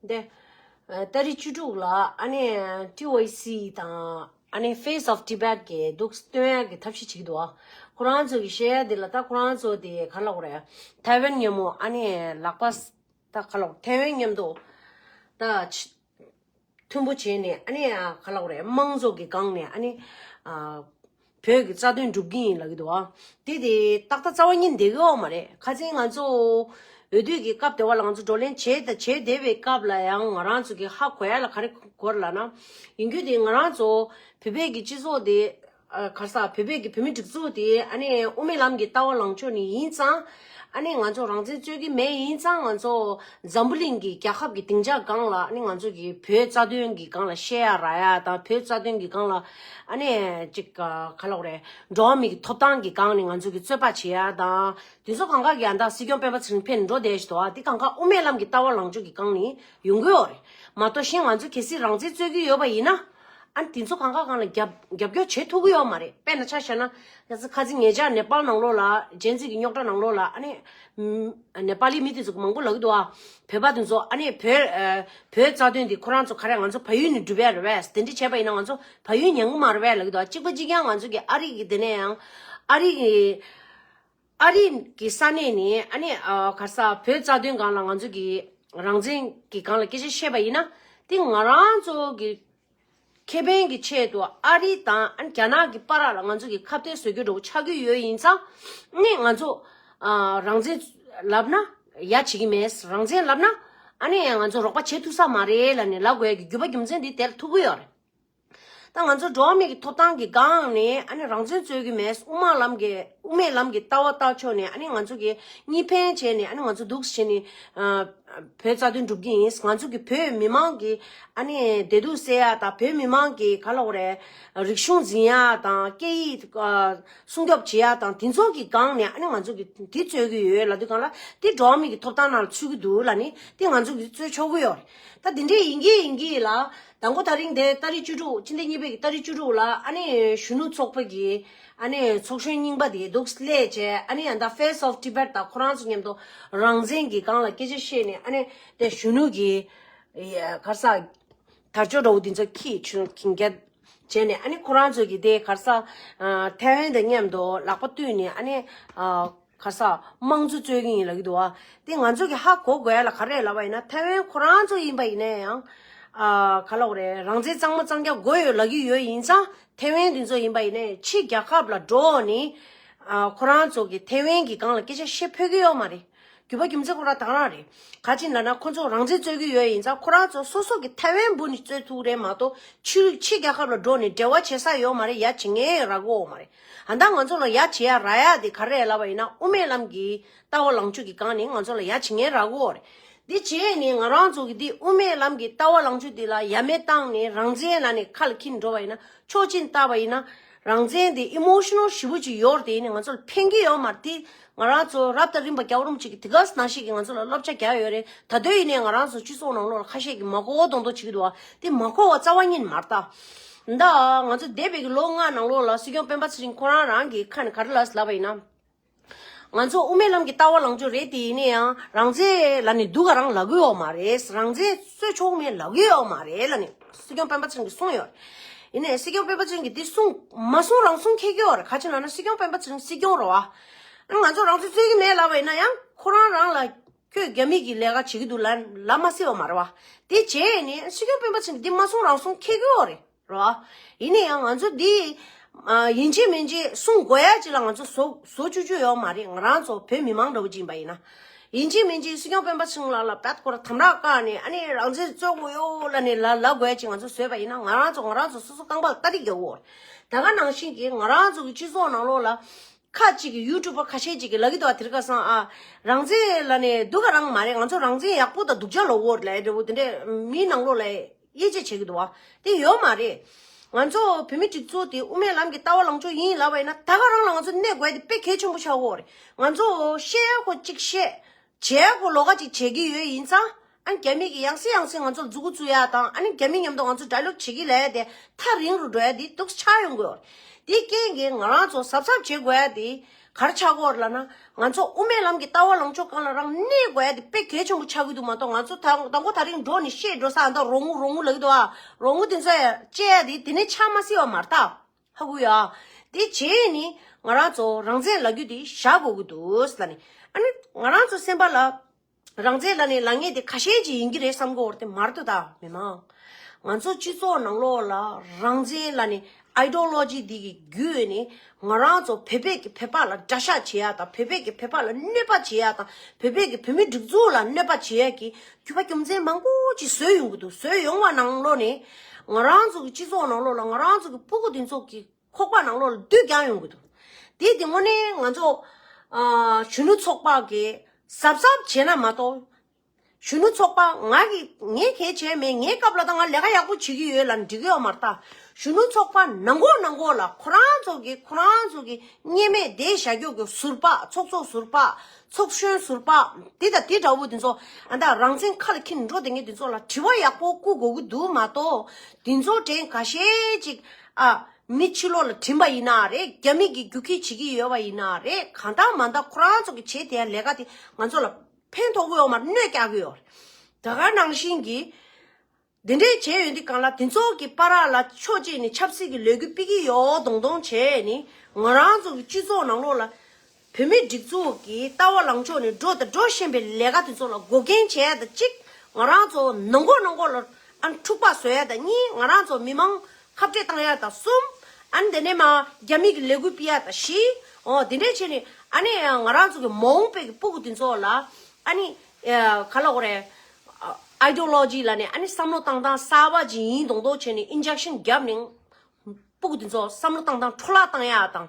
འདི་ལྟ་རི་བཅུ་དྲུག་ལ་ཨ་ནེ་ཏི་ཝེ་སི་དང་ཨ་ནེ Face of Tibet གྱིས་གདུགས་སྟོན་ཡར་གྱི་ཐབས་ཤེས་བྱེད་ཀྱི་འདུག་ཁོ་རང་ཚོ་གི་བཤད་ཡ་འདི་ལ་ད་ཁོ་རང་ཚོ་དེ་ག་ལོག་རེད་ཐའེ་ཝན་ཉམས་མོ་ཨ་ནེ་ལག་པ་ད་ག་ལོག་ཐའེ་ཝན་ཉམས་འདུག་ད་མཐུན་པོ་བྱས་ནས་ཨ་ནེ་ག་ལོག་རེད་དམངས་ཚོགས་ཀྱི་སྒང་ནས་ཨ་ནེ། བོད་ཀྱི་རྩ་དོན་སྒྲུབ་ཀྱི་ཡིན་ལ་གི་འདུག་དེ་དེ་ཏག་ཏག་རྩ་བ་ཉིད་འདེགས་ཡོག་མ་རེད་ཁ་ཚིག་ང་ཚོ་འོས་བསྡུ་ཀྱི་སྐབས་དེ་བ་ལང་ཚོ་བགྲོ་གླེང་བྱེད་དང་བྱེད་བསྡད་པའི་སྐབས་ལ་ཡང་ང་རང་ཚོ་གི་ཧ་གོ་ཡ་ལ་ག་རེ་གོ་ལ་ན་ཡིན་རྒྱུ་དེ་ང་རང་ཚོ་བོད་པའི་གི་སྤྱི་ཚོགས་དེ་གར་ས་བོད་པའི་གི་བོད་མི་སྒྲིག་འཛུགས་དེ་ཨ་ནས་དབུ་མའི་ལམ་གི་ལྟ་བ་ལང་ཕྱོགས་ནི་ཡིན་ཙང། ཨ་ནེ་ང་ཚོ་རང་བཙན་རྩོད་ཀྱི་མེད་ཡིན་ཙང་ང་ཚོ་འཛམ་བུ་གླིང་གི་རྒྱལ་ཁབ་ཀྱི་སྡིངས་ཆ་སྒང་ལ་ཨ་ནེ་ང་ཚོ་གི་བོད་རྩ་དོན་གྱི་སྒང་ལ་བཤད་ཡ་ར་ཡ་དང་བོད་རྩ་དོན་གྱི་སྒང་ལ་ཨ་ནེ་ཅིག་ག་ག་ལོག་རེད་འགྲོ་བ་མི་གི་ཐོབ་ཐང་གི་སྒང་ནས་ང་ཚོ་གི་རྩོད་པ་བྱེད་ཡ་དང་དེ་ཚོ་གང་ག་གི་ཨ་མདའ་སྲིད་སྐྱོང་སྤེན་པ་ཚེ་རིང་ཕེ་ནི་འགྲོ་བསྡད་བཞིན་དོ་ཨ་དེ་གང་ག་དབུ་མའི་ལམ་གྱི་ལྟ་བ་ལངས་ཕྱོགས་གི་སྒང་ནས་ཡོང་གི་ཡོག་རེད་མ་གཏོགས་གཞན་ང་ཚོ་གལ་སྲིད་རང་བཙན་རྩོད་ཀྱི་ཡོད་པ་ཡིན་ན། ཨ་དེ་ཚོ་གང་དགའ་གང་ལ་རྒྱབ་སྐྱོར་བྱེད་ཐུབ་ཀྱི་ཡོད་མ་རེད་དཔེར་ན་ཆ་བཤད་ན། ཁ་ཅིག་ངེད་ཅག་ནེ་པཱལ་ནང་ལོགས་ལ་རྗེས་འཛིན་གྱི་རྙོག་དྲ་ནང་ལོགས་ལ་ཨ་ནེ། ནེ་པཱལ་ལི་མི་དེ་ཚོ་མང་པོ་ལག་གི་འདུག་ཨ། བོད་པ་དེ་ཚོ་ཨ་ནེ། བོད་རྩ་དོན་དེ་ཁོ་རང་ཚོ་ག་རེ་ང་ཚོ་ཕ་ཡུལ་ནས་བསྒྲུབས་པས་རེད་བས་དེ་འདྲ་བྱས་པ་ཡིན་ན་ང་ཚོ་ཕ་ཡུལ་ཉན་གི་མ་རེད་བས་ལག་གི་འདུག་ཨ་གཅིག་པ་གཅིག་ཀྱང་ང་ཚོ་གི་ཨ་རིག་གི་དེ་ནས་ཡང། ཨ་རིག་གི། ཨ་རི་གི་ས་གནས་ནས་ཨ་ནེ་གར་ས་བོད་རྩ་དོན་སྒང་ལ་ང་ཚོ་གི་རང་བཙན་གི་སྒང་ལ་སྐད་ཆ་བཤད་པ་ཡིན་ན་དེ་ང་རང་ཚོ་གི་ཁེ་ཕན་གི་ཆེད་དུ་ཨ་རི་དང་རྒྱ་ནག་གི་པ་ར་ལ་ང་ཚོ་གི་ཁ་བརྡའི་བཟོད་གི་འགྲོ་གི་ཆག་གི་ཡོད་ཡིན་ཙང་ནི་ང་ཚོ་རང་བཙན་ལབ་ན་ཡ་བྱེད་གི་མེད་རང་བཙན་ལབ་ན་ཨ་ནེ་ང་ཚོ་རོགས་པ་བྱེད་ཐུག་ས་མ་རེད་ལ་ནི་ལ་དགོས་གི་རྒྱུ་པ་རྒྱུ་མཚན་དེ་དེར་ཐུག་གི་ཡོད་རེད། ད་ང་ཚོ་འགྲོ་བ་མིའི་ཐོབ་ཐང་གི་སྒང་ནས་ཨ་ནི་རང་བཙན་རྩོད་ཀྱི་མེད་དབུ་མ་ལམ་གྱི་དབུ་མའི་ལམ་གྱི་ལྟ་བ་བརྟག་ཆོག་ནས་ཨ་ནི་ང་ཚོ་གི་གཉིས་ཕན་བྱས་ནས་ཨ་ནི་ང་ཚོ་འདུག་བྱེད་ནི་བོད་རྩ་དོན་འགྲུབ་ཀྱི་ཡིན་ང་ཚོ་གི་བོད་མི་མང་གི་ཨ་ནི་བདེ་སྡུག་སེལ་ཡ་དང་བོད་མི་མང་གི་ག་ལ་འོ་རེད་རིག་གཞུང་འཛིན་ཡ་དང་སྐད་ཡིག་སྲུང་སྐྱོབ་བྱེད་ཡ་དང་དེ་ཚོ་གི་སྒང་ནས་ཨ་ནི་ང་ཚོ་གི་དེ་རྩོད་ཀྱི་ཡོད་ལ་དུས་གང་ལ་དེ་འགྲོ་བ་མིའི་ཐོབ་ཐང་ནང་ལ་ཚུད་ཀྱི་འདུག་ལ་ནི་དེ་ང་ཚོ་གི་རྩོད་ཆོག་གི་ཡོད། ད་འདི་འདྲས་ཡིན་གྱི་ཡིན་གྱི་ལ། ད་མགོ་ད་རིང་དེ་ཏཱ་རི་བཅུ་དྲུག་ཕྱི་ཟླ་གཉིས་པའི་གི་ཏཱ་རི་བཅུ་དྲུག་ལ་ཨ་ནི་གཞོན་ནུ་ཚོགས་པའི་གི་ཨ་ནི་ཚོགས་གཞོན་རྙིང་པ་དེ་འདུག་སླད་བཅས་ཨ་ནི་ཡང་དག Face of Tibet དང་ཁོ་རང་ཚོ་མཉམ་དུ་རང་བཙན་གྱི་སྒང་ལ་སྐད་ཆ་བཤད་ནས་ཨ་ནི་དེ་གཞོན་ནུ་གི་གར་ས་དར་ཅོ་འདྲ་བོ་འདི་ཚོ་ཁྱི་ཆུན་གྱིན་རྒྱ་བྱས་ནས་ཨ་ནི་ཁོ་རང་ཚོ་གི་དེ་གར་ས Taiwan དང་མཉམ་དུ་ལག་པ་བཏུད་ནས་ཨ་ནི། གར་ས་དམངས་གཙོ་རྩོད་གིན་ཡིན་ལ་གི་འདུག་ཨ། དེ་ང་ཚོ་གི་ཧ་གོ་དགོས་ཡ་ལ་ག་རེད་ལབ་པ་ཡིན་ན་ཐའེ་ཝན་ཁོ་རང་ཚོ་ཡིན་པ་ཡིན་ན་ཡང། ཨ། ག་ལོག་རེད་རང་བཙན་གཙང་མ་གཙང་རྒྱ་དགོས་ཡོད་ལ་གི་ཡོད་ཡིན་ཙང་ཐའེ་ཝན་དེ་ཚོ་ཡིན་པ་ཡིན་ན་ཡང་ཕྱི་རྒྱ་ཁབ་ལ་འགྲོ་འོག་ནི། ཨ། ཁོ་རང་ཚོ་གི་ཐའེ་ཝན་གི་སྒང་ལ་སྐད་ཆ་བཤད་ཕོད་ཀི་ཡོད་མ་རེད། རྒྱུ་བ་རྒྱུ་མཚན་ཁོ་རང་དང་རང་རེད། ག་ཅིག་འདྲ་ན་ཁོ་ཚོ་རང་བཙན་རྩོད་གི་ཡོད་ཡིན་ཙང་ཁོ་རང་ཚོ་སོ་སོ་གི་ཐའེ་ཝན་འབུ་ནི་རྩོད་ཐུག་རེད་མ་གཏོགས་ཕྱི་རྒྱ་ཁབ་ལ་འགྲོ་ནི་འབྲེལ་བ་བྱེད་ས་ཡོད་མ་རེད་ཡ་བྱེད་ངེས་ར་གོ་འོག་མ་རེད། ཨ་མདའ་ང་ཚོ་ལ་ཡ་བྱེད་ཡ་ར་ཡ་དེ་ག་རེད་ལབ་པ་ཡིན་ན་དབུ་མའི་ལམ་གྱི་ལྟ་བ་ལངས་ཕྱོད་དེ་གང་ནི་ང་ཚོ་ལ་ཡ་བྱེད་ངན་ར་གོ་རེད། དེ་བྱས་ནས་ང་རང་ཚོ་གི་དེ་དབུ་མའི་ལམ་གྱི་ལྟ་བ་ལངས་ཕྱོད་དེ་ལ་ཡ་མེད་བཏང་ནས་རང་བཙན་ལ་ནི་ཁ་ལ་འཁྱིལ་འགྲོ་བ་ཡིན་ན་ཆོག་ཅིང་ལྟ་བ་ཡིན་ན། རང་བཙན་དེ་ཨི་མོ་ཤི་ནོ་ཧྲིལ་བོ་ཅིག་ཡོར་དེ་ནི་ང་ཚོ་ལ་ཕན་གྱི་ཡོ་མ་རེད་དེ་ང་རང་ཚོ་རབ་དང་རིམ་པ་སྐྱག་རོམ་ཅིག་གིས་དེ་ག་ཟ་ཞིག་གིས་ང་ཚོ་ལ་བསླབ་བྱ་རྒྱག་ཡོད་རེད་ད་དོན་ཡིན་ནའི་ང་རང་ཚོ་སྤྱི་ཚོགས་ནང་ལོག་ལ་ཁ་ཤས་ཀྱིས་མ་གོ་གོ་མདོག་མདོག་བྱེད་ཀྱི་འདུག་བ་དེ་མ་གོ་བ་རྩ་བ་ཉིད་མ་རྟ། མདའ། ང་ཚོ་འདས་པའི་གི་ལོ་ལྔ་ནང་ལོག་ལ་སྲིད་སྐྱོང་སྤེན་པ་ཚེ་རིང་ཁོ་རང་རང་གིས་ཁ་ནས་ག་རེ་ལབ་ཟེར་ལབ་པ་ཡིན་ན། ང་ཚོ་དབུ་མའི་ལམ་གྱི་ལྟ་བ་ལངས་ཕྱོགས་རེད་དེ་ཡིན་ནའི་ཡང་རང་བཙན་ལ་ནི་འདུག་ག་རང་ལ་གོ་ཡོག་མ་རེད་རང་བཙན་རྩོད་ཆོག་མེད་ལ་གོ་ཡོག་མ་རེད་ལ་ནི། སྲིད་སྐྱོང་སྤེན་པ་ཚང་གིས་གསུངས་ཡོད། ཡིན་ནས་སྲིད་སྐྱོང་སྤེན་པ་ཚང་གིས་འདི་གསུངས་མ་གསུངས་རང་གསུངས་ཁྱེད་ཀྱིོ་རེད་ག་ཅིག་ན་ན་སྲིད་སྐྱོང་སྤེན་པ་ཚང་སྲིད་སྐྱོང་རེད་བ། ང་ཚོ་རང་ཚོད་རྩོད་ཀྱི་མེད་ལབ་པ་ཡིན་ན་ཡང་ཁོ་རང་རང་ལ་ཁྱོད་རྒྱ་མིས་ཀྱི་ལས་ཀ་བྱེད་ཀྱི་འདུག་ལ་ལབ་མ་སྲིད་པ་མ་རེད་བ། དེ་བྱས་ནས་སྲིད་སྐྱོང་སྤེན་པ་ཚང་གིས་འདི་མ་གསུངས་རང་གསུངས་ཁྱེད་ཀྱིོ་རེད་བ། ཡིན་ནས་ཡང་ང་ཚོ་འདི་ཡིན་ཅེས་མིན་ཅེས་གསུངས་དགོས་ཡ་ཅིག་ལ་ང་ཚོ་བཟོ་བཅུག་རྒྱུ་ཡོད་མ་རེད་ང་རང་ཚོ་བོད་མི་མང་འདྲ་བོ་ཅིག་ཡིན་པ་ཡིན་ན། ཡིན་གཅིག་མིན་གཅིག་སྲིད་སྐྱོང་སྤེན་པ་ཚང་ལ་ལ་བལྟ་སྐོར་དམ་ར་བཀག་ནས་ཨ་ནི་རང་བཙན་རྩོད་དགོས་ཡོ་ལ་ནི་ལ་ལ་དགོས་ཀྱི་ང་ཚོ་བཟོས་པ་ཡིན་ན་ང་རང་ཚོ་ང་རང་ཚོ་སོ་སོ་རྐང་པ་ཀ་རིག་གི་འོག་ད་ག་ནང་བཞིན་གྱི་ང་རང་ཚོ་གི་སྤྱི་ཚོགས་ནང་ལོག་ལ་ཁ་ཅིག་གི་ཡུ་ཀྲུ་པར་ཁ་ཤས་ཅིག་གི་ལ་གི་དོ་བ་དེར་ཁ་སང་ཨ་རང་བཙན་ལ་ནི་སྡུག་ག་རང་མ་རེད་ང་ཚོ་རང་བཙན་ཡག་པོ་དང་སྡུག་ཅག་ལོ་འོག་ལ་འདྲ་བོ་དེ་འདྲ་མི་ནང་ལོག་ལ། དབྱེ་འབྱེད་བྱེད་ཀྱི་འདུག་བ་དེ་ཡོད་མ་རེད། ང་ཚོ་བོད་མི་སྒྲིག་འཛུགས་དེ་དབུ་མའི་ལམ་གྱི་ལྟ་བ་ལངས་ཕྱོགས་ཡིན་ལབ་པ་ཡིན་ན་ད་ག་རང་ལ་ང་ཚོ་གནས་དགོས་དེ་དཔེ་གལ་ཆེན་པོ་ཆགས་འོག་རེད། ང་ཚོ་ཤེས་ཡག་གོ་གཅིག་ཤེས། བྱས་གོ་ལོ་ག་ཅིག་བྱེད་ཀྱི་ཡོད་ཡིན་ཙང། ཨ་ནི་རྒྱ་མི་གིས་ཡང་སྲིད་ཡང་སྲིད་ང་ཚོ་ལ་རྫུ་གུ་རྫུ་ཡ་དང་ཨ་ནི་རྒྱ་མི་མཉམ་དུ་ང་ཚོ་དགྲ་སློབ་བྱེད་ཀྱི་ལས་དེ་ཐག་རིང་རུ་འགྲོ་ཡ་དེ་སྡུག་ས་ཆགས་ཡོང་དགོས་རེད། དེ་རྐྱེན་གྱིས་ང་རང་ཚོ་གཟབ་གཟབ་བྱེད་དགོས་ཡ་དེ། གར་ཆག་སྐོར་ལ་ན་ང་ཚོ་དབུ་མའི་ལམ་གྱི་ལྟ་བ་ལངས་ཕྱོགས་གང་ལ་རང་གནས་དགོས་ཡ་དེ་དཔེ་གལ་ཆེན་པོ་ཆགས་ཀྱི་འདུག་མ་གཏོགས་ང་ཚོ་ད་མགོ་ད་རིང་འགྲོ་ནས་ཤེས་འགྲོ་ས་ཨ་མདོ་རོང་བོ་རོང་བོ་ལ་གི་འདུག་ཨ་རོང་བོ་དེ་ཚོ་ཡ་དཔྱད་ཡ་དེ་དེ་ནས་ཆགས་མ་སྲིད་བ་མ་རྟགས་ཧ་གོ་ཡ་དེ་བྱེད་ཡས་ནི་ང་རང་ཚོ་རང་བཙན་ལག་རྒྱུ་དེ་བཞག་དགོས་ཀྱི་འདུག་ལ་ནི་ཨ་ནི་ང་རང་ཚོ་སེམས་པ་ལ་རང་བཙན་ལ་ནི་ལངས་ངེས་དེ་ཁ་ཞེན་གྱིས་ཡིན་གྱི་རེད་བསམ་གོ་དེ་མར་དུ་ད་མི་མང་ང་ཚོ་སྤྱི་ཚོགས་ནང་ལོགས་ལ་རང་བཙན་ལ་ནི Ideology དེ་གི་བརྒྱུད་ནི་ང་རང་ཚོ་བོད་པས་ཀྱི་བོད་པ་ལ་དགྲ་ཤ་བྱེད་ཡ་དང་བོད་པས་ཀྱི་བོད་པ་ལ་གནོད་པ་བྱེད་ཡ་དང་བོད་པས་ཀྱི་བོད་མི་སྒྲིག་འཛུགས་ལ་གནོད་པ་བྱེད་ཡ་གྱི་རྒྱུ་བ་རྒྱུ་མཚན་མང་པོ་ཅིག་བཟོས་ཡོང་གི་འདུག་བཟོས་ཡོང་བ་ནང་ལོགས་ནི་ང་རང་ཚོ་གི་སྤྱི་ཚོགས་ནང་ལོགས་ལ་ང་རང་ཚོ་གི་སྤུ་གུ་འདི་ཚོ་གིས། ཁོག་པ་ནང་ལོགས་ལ་བསྡུས་རྒྱག་ཡོང་གི་འདུག་དེས་དེ་སྔོན་ནས་ང་ཚོ། གཞོན་ནུ་ཚོགས་པ་གིས་གཟབ་གཟབ་བྱས་ན་མ་གཏོགས། གཞོན་ནུ་ཚོགས་པ་ང་གིས་ངས་གལ་བྱས་མེད་ངའི་སྐབས་ལ་ད་ང་ལས་ཀ་ཡག་པོ་བྱེད་ཀྱི་ཡོད་ལ་འགྲིག་གི་ཡོད་མ་རྟགས་གཞོན་ནུ་ཚོགས་པ་ནང་གོག་ནང་གོག་ལ་ཁོ་རང་ཚོ་གིས་ཁོ་རང་ཚོ་གི་བརྙས་མེད་བདེ་ཞྭ་སྐྱོག་གི་ཟུར་པགས་ཚོགས་ཚོགས་ཟུར་པགས་ཚོགས་གཞོན་ཟུར་པགས་དེ་དང་དེ་འདྲ་བོ་དེ་ཚོ་ཨ་མདའ་རང་བཙན་ཁ་ལ་འཁྱེར་ནས་འགྲོ་བསྡད་མཁན་དེ་ཚོ་ལ་དྲི་བ་ཡག་པོ་བསྐུ་དགོས་ཀྱི་འདུག་མ་གཏོགས་དེ་ཚོ་དྲན་ག་ཤེད་ཅིག་ཨ། མི་ཕྱི་ལོག་ལ་བྲིན་པ་ཡིན་ན་རེད་རྒྱ་མི་གིས་རྒྱུག་ཁྱི་བྱེད་ཀྱི་ཡོད་པ་ཡིན་ན་རེད་གང་འདྲ་མ་འདྲ་ཁོ་རང་ཚོ་གི་བྱེད་དེ་ལས་ཀ་དེ་ང་ཚོ་ལ་ཕན་ཐོག་དབུས་འོག་མར་གནོད་རྒྱག་གི་ཡོད་རེད་ད་ག་ནང་བཞིན་གྱི་དེ་འདྲས་བྱས་ཡོད་འདི་གང་ལ་དེ་ཚོ་གི་པ་ར་ལ་ཕྱོགས་གཅིག་ནས་ཆབ་སྲིད་ཀྱི་ལས་འགུལ་སྤེལ་གྱི་ཡོད་འདོང་འདོང་བྱས་ནི་ང་རང་ཚོ་གི་སྤྱི་ཚོགས་ནང་ལོག་ལ། བོད་མིའི་སྒྲིག་འཛུགས་ཀྱི་ལྟ་བ་ལངས་ཕྱོགས་ནི་འགྲོ་དང་འགྲོ་བཞིན་པའི་ལས་ཀ་དེ་ཚོ་ལ་འགོག་རྐྱེན་བྱས་ཡས་དང་གཅིག་ང་རང་ཚོ་ནང་འགོག་ནང་འགོག་ལ་ཨང་འཁྲུག་པ་བཟོ་ཡས་དང་གཉིས་ང་རང་ཚོ་མི་མང་ཁ་བྲལ་བཏང་ཡས་དང་གསུམ་ཨ་ནི་དེ་ནས་མ་རྒྱ་མི་གི་ལས་འགུལ་སྤེལ་ཡས་དང་བཞི་འོ་དེ་འདྲས་བྱས་ནས་ཨ་ནི་ང་རང་ཚོ་གི་མ་འོངས་པའི་གི་སྤུ་གུ་དེ་ཚོ་ལ་ཨ་ནི་ག་ལ་གོ་རེ Ideology ལ་ནས་ཨ་ནི་བསམ་བློ་བཏང་བཏང་གསར་བ་ཇི་ཡིན་མདོག་མདོག་བྱས་ནས Injection བརྒྱབ་ནས་སྤུ་གུ་དེ་ཚོ་བསམ་བློ་བཏང་བཏང་འཕྲོ་བརླག་བཏང་ཡས་དང།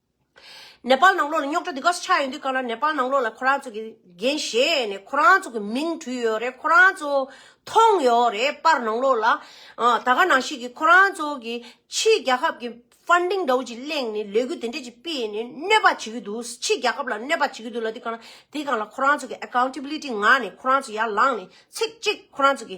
ནེ་པ་ལ་ནང་ལོགས་ལ་རྙོག་དྲ་འདི་ག་ས་ཆགས་ཡོད་འདུག་ག་ལ་ནེ་པ་ལ་ནང་ལོགས་ལ་ཁོ་རང་ཚོ་གི་འགན་བཞེས་ནས་ཁོ་རང་ཚོ་གི་མིང་བྲུས་ཡོད་རེད་ཁོ་རང་ཚོ་མཐོང་ཡོད་རེད་པར་ནང་ལོགས་ལ་ད་ག་ནང་ཤེས་ཀྱི་ཁོ་རང་ཚོ་གི་ཕྱིའི་རྒྱལ་ཁབ་ཀྱི Funding འདྲ་བོ་ཅིག་གླེང་ནས་ལས་འགུལ་དེ་འདྲ་ཅིག་སྤེལ་ནས་གནོད་པ་བྱེད་ཀྱི་འདུག་ཕྱི་རྒྱལ་ཁབ་ལ་གནོད་པ་བྱེད་ཀྱི་འདུག་ལ་དེ་ག་ལ་དེ་ག་ལ་ཁོ་རང་ཚོ་གི Accountability ངང་ནས་ཁོ་རང་ཚོ་ཡར་ལངས་ནས་ཚིག་གཅིག་ཁོ་རང་ཚོ་གི་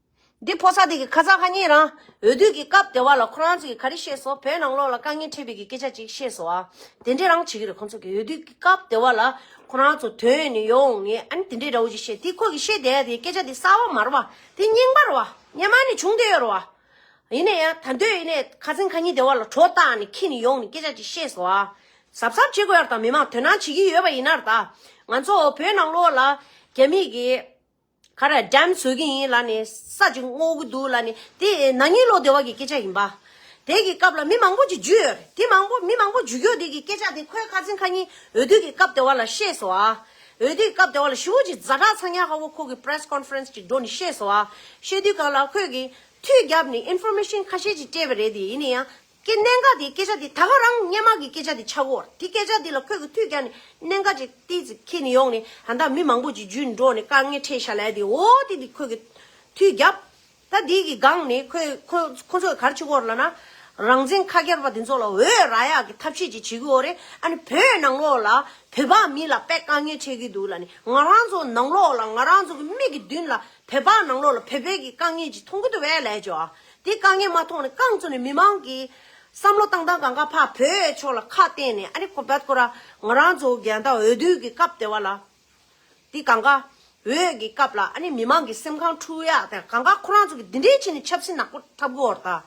འདི་ཕོ་སྲ་དེ་གི་ཁ་ཚ་ཧ་ཉེ་རང་འོས་བསྡུ་གི་སྐབས་དེ་བ་ལ་ཁོ་རང་ཚོ་གི་ག་རེ་ཤེས་སོ་བོད་ནང་ལོག་ལ་དཀའ་ངལ་འཕྲད་པའི་གི་སྐད་ཆ་ཅིག་ཤེས་སོ་ཨ་དེ་འདྲས་རང་བྱེད་གི་རེད་ཁོ་ཚོ་གི་འོས་བསྡུ་གི་སྐབས་དེ་བ་ལ་ཁོ་རང་ཚོ་དོན་ཡོད་ནས་ཡོང་ངེས་ཨ་ནི་དེ་འདྲས་འདྲ་བོ་ཅིག་ཤེས་དེ་ཁོ་གི་ཤེས་དེ་ཨ་དེ་སྐད་ཆ་དེ་གསར་བ་མ་རུ་བ་དེ་རྙིང་པ་རུ་བ་ཉན་མ་ནི་བྱུང་དེ་ཡོད་རུ་བ་ཡིན་ནས་ཡ་ད་འདོད་ཡིན་ནས་ཁ་ཚིང་ཁ་ཉེ་དེ་བ་ལ་གྲོ་བཏགས་ནས་ཁྱི་ནི་ཡོང་ནི་སྐད་ཆ་ཅིག་ཤེས་སོ་ཨ་གཟབ་གཟབ་བྱེད་དགོས་ཡར་དང་མི་མང་དོན་སྣང་བྱེད་གི་ཡོད་བ་ཡིན་ནར་ད་ང་ཚོ་བོད་ནང་ལོག་ལ་རྒྱ་མི་གི། ཁ་ར་འགྲམ་བཟོས་ཀྱི་ཡིན་ལ་ནི་ས་ཅིག་བསྔོག་གི་འདུག་ལ་ནི་དེ་ནག་ཉེས་ལོག་སྡེ་བ་གི་སྐད་ཆ་ཡིན་པ། དེ་གི་སྐབས་ལ་མི་མང་པོ་ཅིག་འཇུས་ཡོད་དེ་མང་པོ་མི་མང་པོ་འཇུས་ཀྱོག་དེ་གི་སྐད་ཆ་དེ་ཁོའི་ཁ་འཛིན་ཁ་ཉིན་འོས་བསྡུ་གི་སྐབས་དེ་བ་ལ་ཤེས་སོ་ཨ། འོས་བསྡུ་གི་སྐབས་དེ་བ་ལ་ཞི་བོ་ཅིག་རྫ་བྲག་ཚང་ཉག་ཧ་བོ་ཁོ་གི Press Conference ཅིག་འགྲོ་ནི་ཤེས་སོ་ཨ། ཤེས་དུས་གང་ལ་ཁོས་གི། མཐུད་རྒྱབ་ནི Information ཁ་ཤས་ཅིག་སྤྲད་པ་རེད་དེ་ཡིན་ནི་ཡང། ཀྱི་གནད་འགག་དེའི་སྐད་ཆ་དེ་ད་ག་རང་སྙན་མག་གི་སྐད་ཆ་དེ་ཆག་གོ་དེ་སྐད་ཆ་དེ་ལ་ཁོད་གི་ཐུད་ཀྱང་ནི་གནད་འགག་ཅིག་ཏིག་ཅིག་ཁེད་ནི་ཡོང་ནི་ད་འདའ་མི་མང་པོ་ཅིག་ཇུས་ནི་འགྲོ་ནི་དཀའ་ངལ་འཕྲད་ཤ་ལས་དེ་འོ་དེ་དེ་ཁོད་གི་ཐུད་རྒྱབ་ད་དེའི་གི་གང་ནི་ཁོད་ཁོ་ཁོ་ཚོ་གི་གར་ཆི་གོར་ལ་ན་རང་བཙན་ཁ་ཁྱར་པ་དེ་ཚོ་ལ་འོས་ར་ཡག་གི་ཐབས་ཤེས་ཅིག་བྱེད་གི་འོ་རེ་ཨ་ནི་བོད་ནང་ལོག་ལ་བོད་པ་མི་ལ་དཔེ་དཀའ་ངལ་འཕྲད་གི་འདུག་ལ་ནི་ང་རང་ཚོ་ནང་ལོག་ལ་ང་རང་ཚོ་གི་མིག་གི་མདུན་ལ་བོད་པ་ནང་ལོག་ལ་བོད་པའི་གི་དཀའ་ངལ་ཅིག་མཐོང་གི་འདུག་བས་ལས་ཅོ་ཨ་དེ་དཀའ་ངལ་མ་མཐོང་ནས་རྐང་བཙུགས་ནས་མི་མང་གི་བསམ་བློ་བཏང་སྟངས་གང་ག་ཕ་བོད་ཕྱོགས་ལ་ཁ་གཏད་ནས་ཨ་རི་ཁོ་བད་ཁོ་ར་ང་རང་ཚོ་རྒྱལ་དང་འོས་བསྡུ་གི་སྐབས་དེ་བ་ལ་དེ་གང་ག་འོས་གི་སྐབས་ལ་ཨ་ནི་མི་མང་གི་སེམས་ཁང་འཁྲུགས་ཡག་དེ་གང་ག་ཁོ་རང་ཚོ་གི་འདི་འདྲའི་ཆེ་ནས་ཆབ་སྲིད་ནག་པོ་འཐབ་དགོས་བར་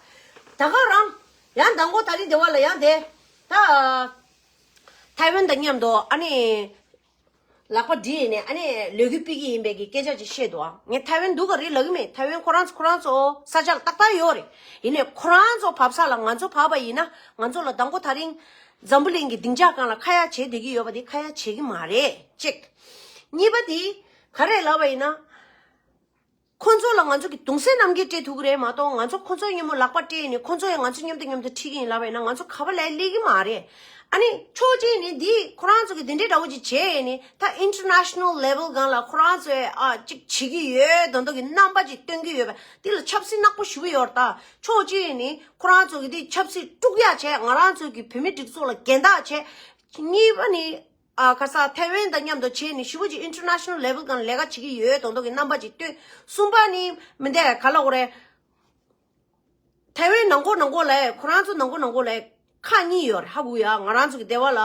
ད་ད་གང་རང་ཡང་ད་མགོ་ད་རི་དེ་བ་ལ་ཡང་དེ་ད་ཐའི་ཝན་དང་མཉམ་དུ་ཨ་ནི། ལག་པ་བསྒྲིལ་ནས་ཨ་ནེ་ལོས་གུས་སྤིད་ཀྱི་ཡིན་པས་ཀྱི་སྐད་ཆ་ཅིག་བཤད་འདུག་ཨ། ངས་ཐའེ་ཝན་འདུག་ག་རེ་ལབ་ཀྱི་མེད་ཐའེ་ཝན་ཁོ་རང་ཚོ་ཁོ་རང་ཚོ་ས་ཆ་ལ་ཏག་ཏག་ཡོད་རེད། ཡིན་ནས་ཁོ་རང་ཚོ་བབས་ས་ལ་ང་ཚོ་བབས་པ་ཡིན་ན་ང་ཚོ་ལ་ཟླ་འགོ་ད་རིང། འཛམ་བུ་གླིང་གི་ལྡིང་ཆ་གང་ལ་ཁ་ཡ་བྱེད་བསྡད་ཀྱི་ཡོད་པ་དེ་ཁ་ཡ་བྱེད་ཀྱི་མ་རེད་གཅིག། གཉིས་པ་དེ་ག་རེ་ལབ་པ་ཡིན་ན། ཁོ་ཚོ་ལ་ང་ཚོ་གི་དུང་སེར་རྣམས་ཀྱིས་སྤྲད་ཐུག་གི་རེད་མ་གཏོགས་ང་ཚོ་ཁོ་ཚོའི་སྙེ་མོ་ལག་པར་སྤྲད་ནས་ཁོ་ཚོ་ཡང་ང་ཚོའི་སྙོམ་དུ་སྙོམ་དུ་ཁྲིད་ཀྱིན་ལབ་ཡིན་ན་ང་ཚོ་ག་པ་ལས་སླེ་གི་མ་རེད། ཨ་ནི་ཆོས་རྗེ་ནི་འདི་ཁོ་རང་ཚོ་གི་འདི་འདྲའི་འདྲ་བོ་ཅིག་བྱས་ཡས་ནི་ད International Level སྒང་ལ་ཁོ་རང་ཚོའི་ཨ་ཅིག་བྱེད་ཀྱི་ཡོད་དོན་དོ་གི་རྣམ་པ་ཅིག་སྟོན་གྱི་ཡོད་པ་འདི་ལ་ཆབ་སྲིད་ནག་པོ་ཞུ་གི་ཡོད་ད་ཆོས་རྗེ་ནི་ཁོ་རང་ཚོ་གི་འདི་ཆབ་སྲིད་དཀྲུག་ཡ་བྱས་ང་རང་ཚོ་གི་བུད་མེད་སྒྲིག་ཚོགས་ལ་གན་དག་བྱས། གཉིས་པ་ནི། ཁ་སང་ཐའེ་ཝན་དང་མཉམ་དུ་བྱས་ནས་ཧྲིལ་པོ་ཅིག International Level སྒང་ལས་ཀ་བྱེད་ཀྱི་ཡོད་དོགས་འདོགས་ཀྱི་རྣམ་པ་ཅིག་བཏོན། གསུམ་པ་ནི། མི་འདི་ག་ལ་འོ་རེད། ཐའེ་ཝན་ནང་འཁོར་ནང་འཁོར་ལས་ཁོ་རང་ཚོ་ནང་འཁོར་ནང་འཁོར་ལས་ཁག་གཉིས་ཡོད་རེད་ཧ་གོ་ཡ། ང་རང་ཚོ་གི་སྡེ་བ་ལ།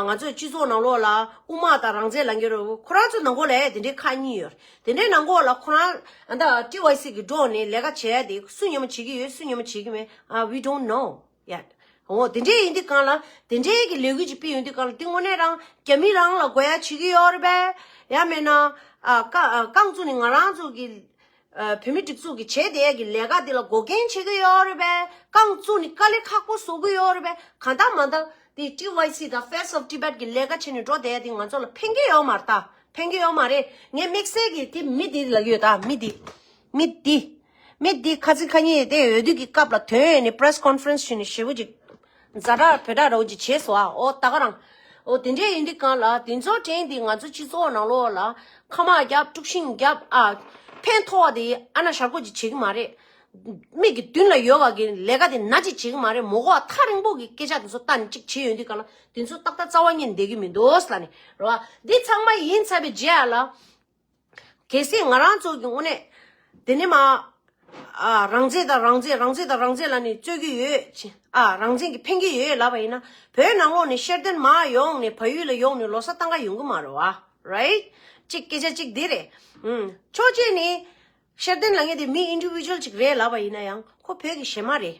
ང་ཚོ་སྤྱི་ཚོགས་ནང་ལོགས་ལ་དབུ་མ་དང་རང་བཙན་ལ་འགྱོད་རེད་ཁོ་རང་ཚོ་ནང་འཁོར་ལས་དེ་འདྲའི་ཁག་གཉིས་ཡོད་རེད། དེ་འདྲའི་ནང་འཁོར་ལ་ཁོ་རང། ཏི་ཝའི་སི་གི་འགྲོགས་ནས་ལས་ཀ་བྱས་ཏེ་སུ་ཉོན་མོ་བྱེད་ཀྱི་ཡོད་སུ་ཉོན་མོ་བྱེད་ཀྱི་མེད། We don't know། ཡ། འོ་དེ་འདྲས་ཡིན་དུས་གང་ལ་དེ་འདྲས་ཀྱི་ལས་འགུལ་ཅིག་སྤེལ་ཡོང་དུས་གང་ལ་དེ་དངོས་གནས་རང་རྒྱ་མི་རང་ལ་དགོས་ཡ་བྱེད་ཀྱི་ཡོད་རེད་པས། ཡ་མེད་ན། རྐང་ཚུགས་ནི་ང་རང་ཚོ་གི། བོད་མི་སྒྲིག་འཛུགས་ཀྱི་བྱས་བསྡད་ཀྱི་ལས་ཀ་འདི་ལ་འགོག་རྐྱེན་བྱེད་ཀྱི་ཡོད་རེད་པས། རྐང་ཚུགས་ནི་དཀའ་ལས་ཁག་པོ་བཟོ་གི་ཡོད་རེད་པས་གང་ལྟ་མ་ལྟ། དེ TYC དང Face of Tibet ཀྱི་ལས་ཀ་བྱས་ནས་འགྲོ་བསྡད་དེ་ང་ཚོ་ལ་ཕན་གྱི་ཡོད་མ་རེད། ཕན་གྱི་ཡོད་མ་རེད། ངས་དམིགས་བསལ་གྱིས་དེ་མི་དེ་ལ་ཡོད་ད་མི་དེ། མི་འདི། མི་འདི་ཁ་ཚིག་ཁ་ཉིན་ཡོད་དེ་འོས་བསྡུ་གི་སྐབས་ལ་དོན་ཡོད་ནི Press Conference ཞུས་ནས་ཞེ་བོ་ཅིག། མཛའ་གྲགས་བོད་གྲགས་རོ་ཅིག་བྱེད་སོ་ཨ་ཨོ་ད་ག་རང། ཨོ་དེ་འདྲས་ཡིན་དུས་གང་ལ་དེ་ཚོ་དྲན་དེ་ང་ཚོ་སྤྱི་ཚོགས་ནང་ལོག་ལ་ཁ་དམག་རྒྱབ་དཀྲུགས་ཤིང་རྒྱབ་ཨ། ཕན་ཐོག་ཨ་དེ་ཨ་ན་ཞར་གོ་ཅིག་བྱེད་གི་མ་རེད། མིག་གི་མདུན་ལ་ཡོད་བ་གི་ལས་ཀ་དེ་ན་ཅིག་བྱེད་གི་མ་རེད་མོ་གོ་ཨ་ཐག་རིང་པོ་གི་སྐད་ཆ་དེ་ཚོ་ལྟ་ནི་ཅིག་བྱེད་ཡོད་དུས་གང་ལ་དེ་ཚོ་ཏག་ཏག་རྩ་བ་ཉེར་འདེགས་གི་མི་འདུག་ལ་ནི་རོ་ཨ། འདི་ཚང་མ་ཡིན་ཚར་བའི་རྗེས་ཨ་ལ། གལ་སྲིད་ང་རང་ཚོ་གི་དངོས་གནས། དེ་ནི་མ། རང་བཙན་དང་རང་བཙན་རང་བཙན་དང་རང་བཙན་ལ་ནི་རྩོད་ཀྱི་ཡོད། རང་བཙན་གྱི་ཕན་གྱི་ཡོད་ལབ་པ་ཡིན་ན། བོད་ནང་ལོགས་ནས་ཤེར་འདོན་མ་ཡོང་ནས་བལ་ཡུལ་ལ་ཡོང་ནས་ལོ་སར་བཏང་ག་ཡོང་གི་མ་རེད་བ། Right། གཅིག་སྐད་ཆ་གཅིག་དེ་རེད། ཕྱོགས་གཅིག་ནས། ཤེར་འདོན་ལ་ངེས་དེ་མི Individual གཅིག་རེད་ལབ་པ་ཡིན་ན་ཡང། ཁོ་བོད་ཀྱི་གཞས་མ་རེད།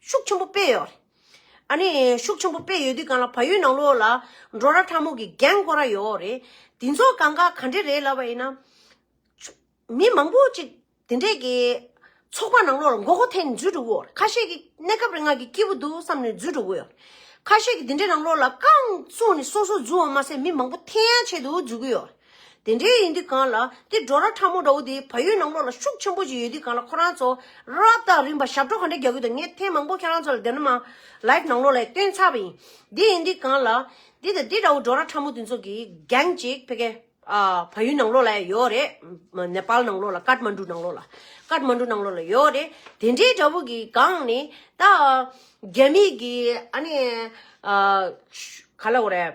ཤུགས་ཆེན་པོ་སྤེལ་ཡོད། ཨ་ནི་ཤུགས་ཆེན་པོ་སྤེལ་ཡོད་དུས་གང་ལ་བ་ཡོད་ནང་ལོགས་ལ་འགྲོ་ར་ཕྲ་མོ་གི་རྒན་འགོ་ར་ཡོད་རེད། དེ་ཚོ་གང་ག་ག་འདྲེ་རེད་ལབ་པ་ཡིན་ན། མི་མང་པོ་ཅིག་དེ་འདྲེ་གི་ཚོགས་པ་ནང་ལོགས་ལ་འགོ་གོ་ཐེན་འཛུལ་འགྲོ་གི་ཡོད། ཁ་ཤས་ཀྱི་གནས་སྐབས་རེ་ང་གི་སྐྱིད་པོ་འདུག་བསམ་ནས་འཛུལ་འགྲོ་གི་ཡོད། ཁ་ཤས་ཀྱི་དེ་འདྲེ་ནང་ལོགས་ལ་རྐང་བཙུགས་ནས་སོ་སོ་འཛུལ་བ་མ་ཟད་མི་མང་པོ་ཐེན་ཡ་བྱེད་དུ་འཛུལ་གི་ཡོད། དེ་འདྲའི་ཡིན་དུས་གང་ལ་དེ་སྒྲོ་ར་ཕྲ་མོ་འདྲ་བོ་དེ་ཕ་ཡུལ་ནང་ལོགས་ལ་ཤུགས་ཆེན་པོ་ཅིག་ཡོད་དུས་གང་ལ་ཁོ་རང་ཚོ་རབས་དང་རིམ་པ་ཞབས་བྲོ་ག་འདྲ་རྒྱག་གི་འདུག་ངས་ཐེངས་མང་པོ་ཁྱེད་རང་ཚོ་ལ་བདེན་ནམ་ལཱིབ་ནང་ལོགས་ལ་སྟོན་ཚར་བ་ཡིན། དེ་ཡིན་དུས་གང་ལ། འདི་དང་འདི་འདྲ་བོ་སྒྲོ་ར་ཕྲ་མོ་དེ་ཚོ་གི་རྒྱན་ཅིག་ཕེ་ཁེ། ཕ་ཡུལ་ནང་ལོགས་ལ་ཡོད་རེད། ནེ་པཱལ་ནང་ལོགས་ལ་ཀཱད་མཱན་གྲུ་ནང་ལོགས་ལ། ཀཱད་མཱན་གྲུ་ནང་ལོགས་ལ་ཡོད་རེད། དེ་འདྲའི་འདྲ་བོ་གི་སྒང་ནས་ད། རྒྱ་མིས་གི་ཨ་ནེ། ག་ལ་འོ་རེད།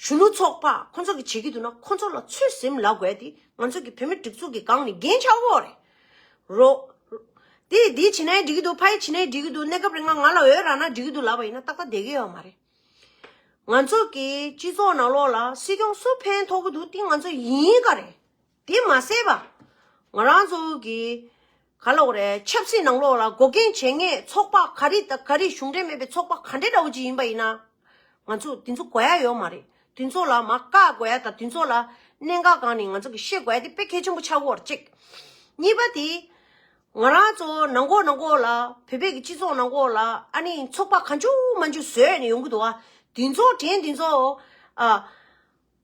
གཞོན་ནུ་ཚོགས་པ་ཁོ་ཚོ་གིས་བྱེད་ཀྱི་འདུག་ན་ཁོ་ཚོ་ལ་ཚོད་ཟིན་ལ་དགོས་ཏེ་ང་ཚོ་གི་བོད་མི་སྒྲིག་འཛུགས་ཀྱི་སྒང་ནས་རྒྱན་ཆ་བོ་རེད། རོ། དེ་ཡིས་དེ་བྱེད་ནའི་འགྲིག་གི་འདུག་ཕ་ཡིས་བྱེད་ནའི་འགྲིག་གི་འདུག་གནས་སྐབས་རེ་ང་ང་ལ་འོས་རག་ན་འགྲིག་གི་འདུག་ལབ་པ་ཡིན་ན་ཏག་ཏག་བསྡད་ཀྱི་ཡོད་མ་རེད། ང་ཚོ་གི་སྤྱི་ཚོགས་ནང་ལོགས་ལ་སྲིད་སྐྱོང་སུ་ཕན་ཐོག་གི་འདུག་དེ་ང་ཚོ་ཡིན་ག་རེད། དེ་མ་ཟད་པ། ང་རང་ཚོ་གི་ག་ལོག་རེད་ཆབ་སྲིད་ནང་ལོག་ལ་འགོག་རྐྱེན་བྱེད་ངེས་ཚོགས་པ་ག་རེ་དང་ག་རེ་གཞུང་འབྲེལ་མེད་པའི་ཚོགས་པ་ག་འདྲེ་འདྲ་བོ་ཅིག་ཡིན་པ་ཡིན་ན། ང་ཚོ་དེ་ཚོ་གོ་ཡ་ཡོད་མ་རེད་དེ་ཚོ་ལ་མ་བཀག་དགོས་ཡ་དང་དེ་ཚོ་ལ་གནད་འགག་གང་ནི་ང་ཚོ་གི་ཤེས་དགོས་ཡ་དེ་དཔེ་གལ་ཆེན་པོ་ཆགས་དགོས་རེད་གཅིག། གཉིས་པ་དེ། ང་རང་ཚོ་ནང་འགོག་ནང་འགོག་ལ་བོད་པའི་གི་སྤྱི་ཚོགས་ནང་འགོག་ལ་ཨ་ནི་ཚོགས་པ་ག་འཇུག་མ་འཇུག་བཟོས་ཡ་ནི་ཡོང་གི་འདུག་བ། དེ་ཚོ་དྲན་དེ་ཚོ།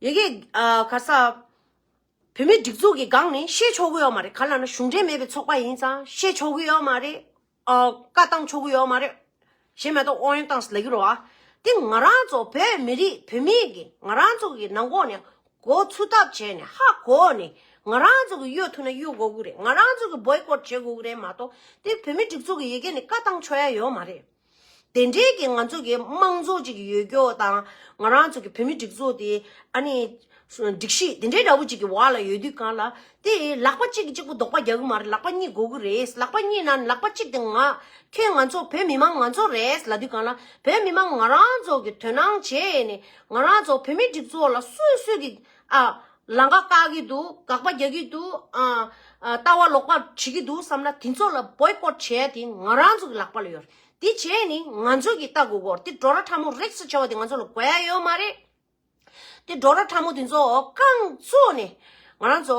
ཡི་གེ། ག་ས། བོད་མིའི་སྒྲིག་འཛུགས་ཀྱི་སྒང་ནས་བཤད་ཆོག་གི་ཡོད་མ་རེད་ག་ལ་ན་གཞུང་འབྲེལ་མེད་པའི་ཚོགས་པ་ཡིན་ཙང་བཤད་ཆོག་གི་ཡོད་མ་རེད། བཀའ་བཏང་ཆོག་གི་ཡོད་མ་རེད། ཞེས་མེ་ཏོག་དབང་ཡོན་བཏང་ཟེར་ལ་ཀི་རོ་ཨ། དེ་ང་རང་ཚོ་བོད་མི་རིགས་བོད་མི་ཡིས་ང་རང་ཚོ་གི་ནང་གོ་ནས་གོ་ཚུ་ཐབས་བྱས་ནས་ཧ་གོ་ནས་ང་རང་ཚོ་གི་གཡོ་ཐུ་ན་གཡོ་གོ་གི་རེད་ང་རང་ཚོ་གི་བོའི་སྐོར་བྱེད་གོ་གི་རེད་མ་གཏོགས་དེ་བོད་མི་སྒྲིག་འཛུགས་ཀྱི་ཡི་གེ་ནས་བཀའ་བཏང་ཆོག་ཡ་ཡོད་མ་རེད། དེ་འབྲེལ་གྱི་ང་ཚོ་གི་དམངས་གཙོ་གཅིག་གི་ཡོད་སྐྱོ་དང་ང་རང་ཚོ་གི་བོད་མི་སྒྲིག་འཛུག་དེ་ཨ་ནི། སྒྲིག་གཞི་དེ་འདྲའི་འདྲ་བོ་གཅིག་གི་བར་ལ་ཡོད་དུས་གང་ལ། དེ་ལག་པ་གཅིག་གི་གཅིག་པོ་རྡོག་པ་རྒྱག་གི་མ་རེད་ལག་པ་གཉིས་དགོས་ཀྱི་རེད་ལག་པ་གཉིས་ན་ལག་པ་གཅིག་དེ་ང། ཁྱོད་ང་ཚོ་བོད་མི་དམངས་ང་ཚོ་རེད་ལ་དུས་གང་ལ་བོད་མི་དམངས་ང་རང་ཚོ་གི་དོན་སྣང་བྱས་ནས་ང་རང་ཚོ་བོད་མི་སྒྲིག་འཛུག་ལ་སུས་སུས་ཀྱི་ཨ། ལང་ཀ་བཀག་གི་འདུག་དགག་པ་རྒྱག་གི་འདུག་ལྟ་བ་ལོག་པ་བྱེད་ཀྱི་འདུག་བསམ་ན་དེ་ཚོ་ལ་བོད་ཀོད་བྱས་ཡ་དེ་ང་རང་ཚོ་གི་ལག་པ་ལ་ཡོད་རེད་དེ་བྱས་ནི་ང་ཚོ་གི་ལྟ་དགོས་གོ་རེད་དེ་འགྲོ་ར་ཕྲ་མོ་རེག་ས་བྱ་བ་དེ་ང་ཚོ་ལ་དགོས་ཡ་ཡོད་མ་རེད་དེ་འགྲོ་ར་ཕྲ་མོ་དེ་ཚོ་རྐང་བཙུགས་ནས་ང་རང་ཚོ་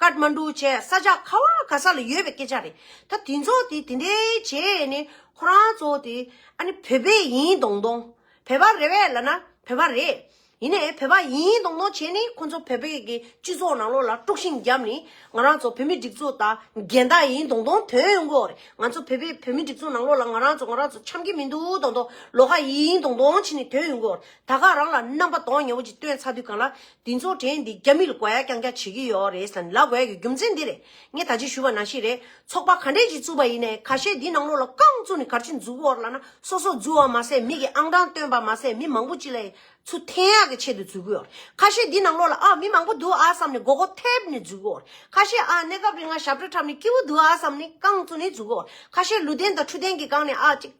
ཀཱད་མཱ་འདྲུ་བཅས་ས་ཆ་ཁ་བ་ག་ས་ལ་ཡོད་པའི་སྐད་ཆ་རེད། ད་དེ་ཚོ་དེ་དེ་འདྲའི་བྱས་ནས་ཁོ་རང་ཚོ་དེ་ཨ་ནི་བོད་པའི་ཡིན་གདོང་གདོང། བོད་པ་རེད་བས་ལ་ན་བོད་པ་རེད། ཡིན་ནས་བོད་པ་ཡིན་གདོང་གདོང་བྱས་ནས་ཁོ་ཚོ་བོད་པའི་གི་སྤྱི་ཚོགས་ནང་ལོགས་ལ་དཀྲུགས་ཤིང་བརྒྱབ་ནས་ང་རང་ཚོ་བོད་མི་སྒྲིག་འཛུགས་དང་འགལ་ཟླ་ཡིན་གདོང་གདོང་དོན་ཡོང་གི་རེད། ང་ཚོ་བོད་པའི་བོད་མི་སྒྲིག་འཛུགས་ནང་ལོགས་ལ་ང་རང་ཚོ་ང་རང་ཚོ་འཆམ་གི་མི་འདུག་གདོང་གདོང་ལོགས་ཀ་ཡིན་གདོང་གདོང་བྱས་ནས་དོན་ཡོང་གི་རེད། ད་ག་རང་ལ་རྣམ་པ་གདོང་ཉེ་བོ་ཅིག་སྟོན་ཚར་དུས་གང་ལ་འདི་ཚོ་དྲན་འདི་རྒྱ་མི་ལ་དགོ་ཡ་རྐྱང་རྐྱང་བྱེད་ཀྱི་ཡོད་རེད་ཟེར་ན་ལག་བལ་གྱི་རྒྱུ་མཚན་འདི་རེད་ངས་ད་ཅིག་ཞུས་པ་ན་ཤི་རེད་ཚོགས་པ་ག་འདྲས་ཀྱིས་བཙུགས་པ་ཡིན་ནའི་ཁ་ཤས་འདི་ནང་ལོག་ལ་རྐང་བཙུགས་ནས་གར་ཅིག་འཛུགས་འོར་ལ་ན་སོ་སོ་འཛུགས་བ་མ་ཟད་མིག་གི་ཨང་གྲངས་བཏོན་པ་མ་ཟད་མི་མང་པོ་ཅིག་ལ་ཡི་ཚུ་འཐེན་ཡག་གི་ཆེད་དུ་འཛུགས་ཀྱི་འོར་ཁ་ཤས་འདི་ནང་ལོག་ལ་ཨ་མི་མང་པོ་འདུག་ཨ་བསམ་ནས་མགོ་སྐོར་ཐེབས་ནས་འཛུགས་ཀྱི་འོར་ཁ་ཤས་ཨ་གནས་སྐབས་རིང་ང་ཞབས་བྲོ་འཁྲབ་ནས་སྐྱིད་པོ་འདུག་ཨ་བསམ་ནས་རྐང་བཙུགས་ནས་འཛུགས་ཀྱི་འོར་ཁ་ཤས་ལུས་རྟེན་དང་འཕྲུལ་རྟེན་གྱི་སྒང་ནས་ཨ་ཅིག་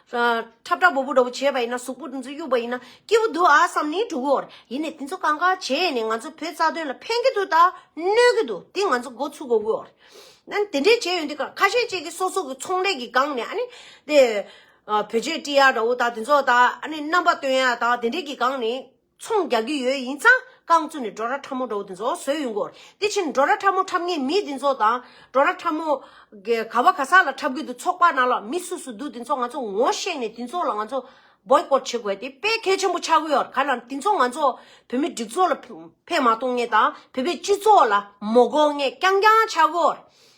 ཁྲབ་ཁྲབ་བོ་བོ་འདྲ་བོ་བྱས་པ་ཡིན་ན་གཟུགས་པོ་འདི་ཚོ་གཡུག་པ་ཡིན་ན་སྐྱིད་པོ་འདུག་ཨ་བསམ་ནས་འདུག་གོ། ཡིན་ནས་དེ་ཚོ་གང་གང་བྱས་ནས་ང་ཚོ་བོད་རྩ་དོན་ལ་ཕན་གྱི་འདུག་ད་གནོད་ཀྱི་འདུག་དེ་ང་ཚོ་འགོ་ཚུགས་དགོས་གོ། ནན་དེ་འདྲས་བྱས་ཡོང་དུས་ཁ་ཤས་བཅས་ཀྱི་སོ་སོ་གི་ཚོང་ལས་ཀྱི་སྒང་ནས་ཨ་ནི། དེ། བོད་ཆས་དཀྲི་ཡ་འདྲ་བོ་དག་དེ་ཚོ་དག་ཨ་ནི་རྣམ་པ་སྟོན་ཡ་དག་དེ་འདྲས་ཀྱི་སྒང་ནས། ཚོང་རྒྱག་གི་ཡོད་ཡིན་ཙང་རྐང་བཙུགས་ནས་འབྲོག་ར་ཕྲ་མོ་འབྲོག་དེ་ཚོ་བཟོས་ཡོང་གོ། དེ་ཕྱིར་འབྲོག་ར་ཕྲ་མོ་འཁྲབ་ངེས་མི་དེ་ཚོ་དང་འབྲོག་ར་ཕྲ་མོ། ག་བ་ག་ས་ལ་འཁྲབ་གི་འདུག་ཚོགས་པ་ནང་ལ་མི་སུ་སུ་འདུག་དེ་ཚོ་ང་ཚོ་ངོ་ཤེས་ནས་དེ་ཚོ་ལ་ང་ཚོ། Boycott། བྱེད་དགོས་ཏེ་དཔེ་གལ་ཆེན་པོ་ཆགས་ཀྱི་ཡོད་ག་ལ་དེ་ཚོ་ང་ཚོ་བོད་མི་སྒྲིག་འཛུགས་ལ་ཕན་མ་གཏོང་ངེས་དང་བོད་པའི་སྤྱི་ཚོགས་ལ་མོ་གོ་ངེས་རྐྱང་རྐྱང་ཆགས་ཀྱི་ཡོད།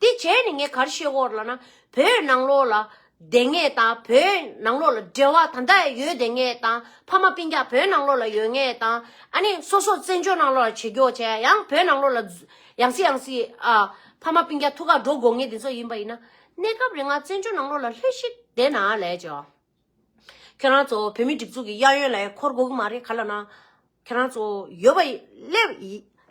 དེ་བྱས་ནས་ངས་གར་ཤེས་བོར་ལ་ན་བོད་ནང་ལོགས་ལ་བསྡད་ངེས་དང་བོད་ནང་ལོགས་ལ་འབྲེལ་བ་ད་ལྟ་ཡོད་བསྡད་ངེས་དང་ཕ་མ་སྤུན་རྒྱག་བོད་ནང་ལོགས་ལ་ཡོད་ངེས་དང་ཨ་ནི་སོ་སོ་བཙན་བྱོལ་ནང་ལོགས་ལ་ཇེ་མགྱོགས་བྱས་ཡང་བོད་ནང་ལོགས་ལ་ཡང་སྲིད་ཡང་སྲིད་ཨ་ཕ་མ་སྤུན་རྒྱག་ཐུགས་ཁག་འགྲོ་དགོས་ངེས་དེ་ཚོ་ཡིན་པ་ཡིན་ན་གནས་སྐབས་རེ་ང་བཙན་བྱོལ་ནང་ལོགས་ལ་སླེབས་ཤིག་བསྡད་ན་ལས་ཅི། ཁྱོད་རང་ཚོ་བོད་མི་སྒྲིག་འཛུགས་ཀྱི་གཡག་ཡོན་ལ་ཡང་འཁོར་དགོས་ཀྱི་མ་རེད་ག་ལ་ན། ཁྱོད་རང་ཚོ་ཡོད་པ་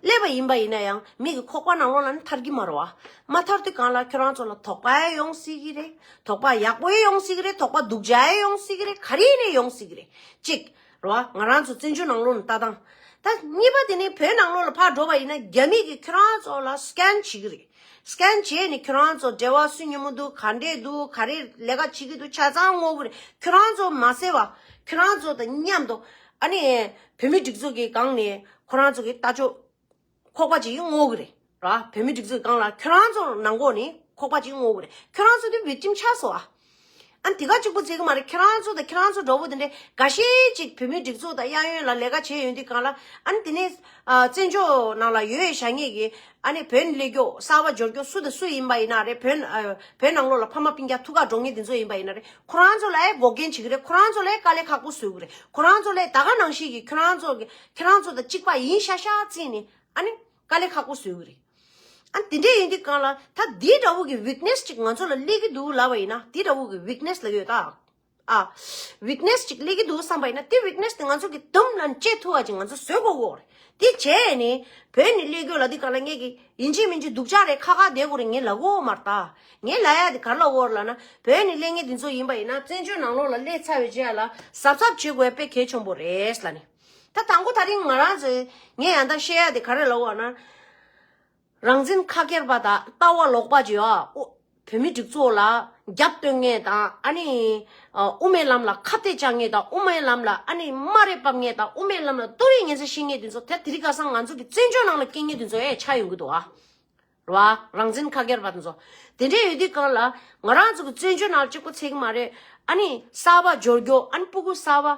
སླེབས་པ་ཡིན་པ་ཡིན་ན་ཡང་མིག་གི་ཁོག་པ་ནང་ལོགས་ལ་ནི་ཐར་གྱི་མ་རོ། མ་ཐར་དུས་གང་ལ་ཁྱོད་རང་ཚོ་ལ་དོགས་པ་ཡོང་སྲིད་ཀྱི་རེད་དོགས་པ་ཡག་པོ་ཡོང་སྲིད་ཀྱི་རེད་དོགས་པ་སྡུག་ཅག་ཡོང་སྲིད་ཀྱི་རེད་ག་རེ་ཡིན་རེད་ཡོང་སྲིད་ཀྱི་རེད་གཅིག། རེད་བ། ང་རང་ཚོ་བཙན་བྱོལ་ནང་ལོགས་ནས་ལྟ་སྟངས་ད། གཉིས་པ་དེ་ནི་བོད་ནང་ལོགས་ལ་ཕར་འགྲོ་བ་ཡིན་ན་རྒྱ་མིས་ཀྱིས་ཁྱོད་རང་ཚོ་ལ Scan བྱེད་ཀྱི་རེད། Scan བྱས་ནས་ཁྱོད་རང་ཚོ་འབྲེལ་བ་སུས་ཉོ་མོ་འདུག་ག་འདྲས་འདུག་ག་རེ་ལས་ཀ་བྱེད་ཀྱི་འདུག་ཆ་ཚང་བསྔོག་གི་རེད་ཁྱོད་རང་ཚོ་མ་ཟེར་བ། ཁྱོད་རང་ཚོ་དང་མཉམ་དུ་ཨ་ནི་བོད་མི་སྒྲིག་འཛུགས་ཀྱི་སྒང་ནས་ཁོ་རང་ཚོ་གི་ལྟ་ཕྱོགས། ཁོག་པ་ཅིག་བསྔོག་གི་རེད་ར་བོད་མི་སྒྲིག་འཛུགས་སྒང་ལ་ཁྱོད་རང་ཚོར་ནང་འགོག་ནི་ཁོག་པ་ཅིག་བསྔོག་གི་རེད་ཁྱོད་རང་ཚོ་དེ་བིཀ་ཏིམ་ཆགས་སོང་ཨ་ཨ་འདི་ག་ཅིག་པོ་མཛད་གི་མ་རེད་ཁྱོད་རང་ཚོ་དང་ཁྱོད་རང་ཚོ་འདྲ་བོ་དེ་འདྲས་འགའ་ཤས་ཅིག་བོད་མི་སྒྲིག་འཛུགས་དང་གཡག་ཡོན་ལ་ལས་ཀ་བྱས་ཡོད་འདི་གང་ལ་ཨ་ཨ་འདི་ནས་བཙན་བྱོལ་ནང་ལ་ཡོད་ཡོད་བྱ་ངེས་གི་ཨ་ཨ་བོད་ནི་ལས་རྒྱོ་གསར་བ་འབྱོར་རྒྱོ་སུ་དང་སུ་ཡིན་པ་ཡིན་ན་རེད་བོད་ཨ་ཨ་བོད་ནང་ལོག་ལ་ཕ་མ་སྤིན་རྒྱ་ཐུགས་ཁག་འགྲོ་ངེས་འདི་ཚོ་ཡིན་པ་ཡིན་ན་རེད་ཁོ་རང་ཚོ་ལ་ཨེ་འགོག་རྒན་བྱེད་གི་རེད་ཁོ་རང་ཚོ་ལ་ཨེ་དཀའ་ལས་ཁག་པོ་བཟོས་གི་རེད་ཁོ་རང་ཚོ་ལ་ཨེ་ད་ག་ནང་བཤད་གི་ཁྱོད་རང་ཚོ་གི་ཁྱེད་རང་ཚོ་དང་གཅིག་པ་ཡིན་ཤག་ཤག་བརྩིས་ནས་ཨ་ནི་དཀའ་ལས་ཁག་པོ་བཟོས་ཡོད་རེད། ཨ་དེ་འདྲས་ཡིན་དུས་གང་ལ་ད་དེ་འདྲ་བོ་གི weakness གཅིག་ང་ཚོ་ལ་སླེབས་ཀྱི་འདུག་ལབ་པ་ཡིན་ན་དེ་འདྲ་བོ་གི weakness ལབ་ཡོད་ད། ཨ weakness གཅིག་སླེབས་ཀྱི་འདུག་བསམ་པ་ཡིན་ན་དེ weakness དེ་ང་ཚོ་གི་དུམ་ལ་བཅད་ཐུབ་བ་གཅིག་ང་ཚོ་བཟོས་དགོས་གོ་རེད། དེ་བྱས་ནས་བོད་ནས་སླེབས་དགོས་ལ་དེ་གང་ལ་ངེད་ཀྱི་ཡིན་གཅིག་མིན་གཅིག་སྡུག་ཅག་རེད་ཁག་ཁག་བསྡད་དགོས་རེད་ངེད་ལ་གོ་མ་རེད་ད། ངེད་ལ་ཡ་དེ་གར་ལ་འོར་ལ་ན་བོད་ནས་སླེབས་ངེས་དེ་ཚོ་ཡིན་པ་ཡིན་ན་བཙན་བྱོལ་ནང་ལོགས་ལ་སླེབས་ཚར་བའི་རྗེས་ལ་གཟབ་གཟབ་བྱེད་དགོས་པས་གལ་ཆེན་པོ་རེད་ལ་ནི། ད་དང་པོ་ད་རིང་ང་རང་ཚོས་ངས་ཡང་དག་བཤད་ཡ་དེ་ག་རེ་ལ་འོ་ན། རང་བཙན་ཁ་སྐྱེར་པ་དང་ལྟ་བ་ལོག་པ་བརྗོད་ཨ་ཨོ། བོད་མི་སྒྲིག་ཚོགས་ལ་རྒྱབ་བསྟོན་ངེས་དང་ཨ་ནི། དབུ་མའི་ལམ་ལ་ཁ་གཏད་བཅག་ངེས་དང་དབུ་མའི་ལམ་ལ་ཨ་ནི་སྨ་རས་བབས་ངེས་དང་དབུ་མའི་ལམ་ལ་ལྟོ་རེས་ངན་ཚད་བཤད་ངེས་དུས་ཚོད་དེ་དེ་རིགས་ཀ་སང་ང་ཚོ་གི་བཙན་བྱོལ་ནང་ལ་སྐྱེ་ངེས་དུས་ཚོད་ཨེ་ཆགས་ཡོང་གི་འདུག་ཨ། རེད་བ། རང་བཙན་ཁ་སྐྱེར་པ་དེ་ཚོ། དེ་འདྲས་ཡོད་དུས་གང་ལ། ང་རང་ཚོ་གི་བཙན་བྱོལ་ནང་ལ་གཅིག་པོ་ཚད་གི་མ་རེད། ཨ་ནི་གསར་བ་སྦྱོར་རྒྱོ་ཨ་ནི་སྤུ་གུ་གསར་བ།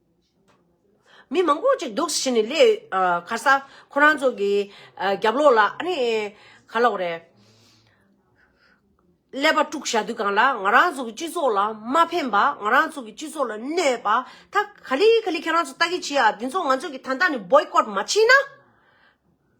མི་མང་པོ་ཅིག་འདུག་ཟེར་ནས་ལས་ག་ས་ཁོ་རང་ཚོ་གི་རྒྱབ་ལོག་ལ་ཨ་ནི་ག་ལོག་རེད། ཀླད་པ་དཀྲུག་བཞག་དུས་གང་ལ་ང་རང་ཚོ་གི་སྤྱི་ཚོགས་ལ་མ་ཕན་པ་ང་རང་ཚོ་གི་སྤྱི་ཚོགས་ལ་གནོད་པ་ད་ག་ལི་ག་ལི་ཁྱེད་རང་ཚོ་ལྟ་གི་བྱེད་ཨ་འདི་ཚོ་ང་ཚོ་གི་ད་ལྟ་ནས Boycott མ་བྱེད་ན།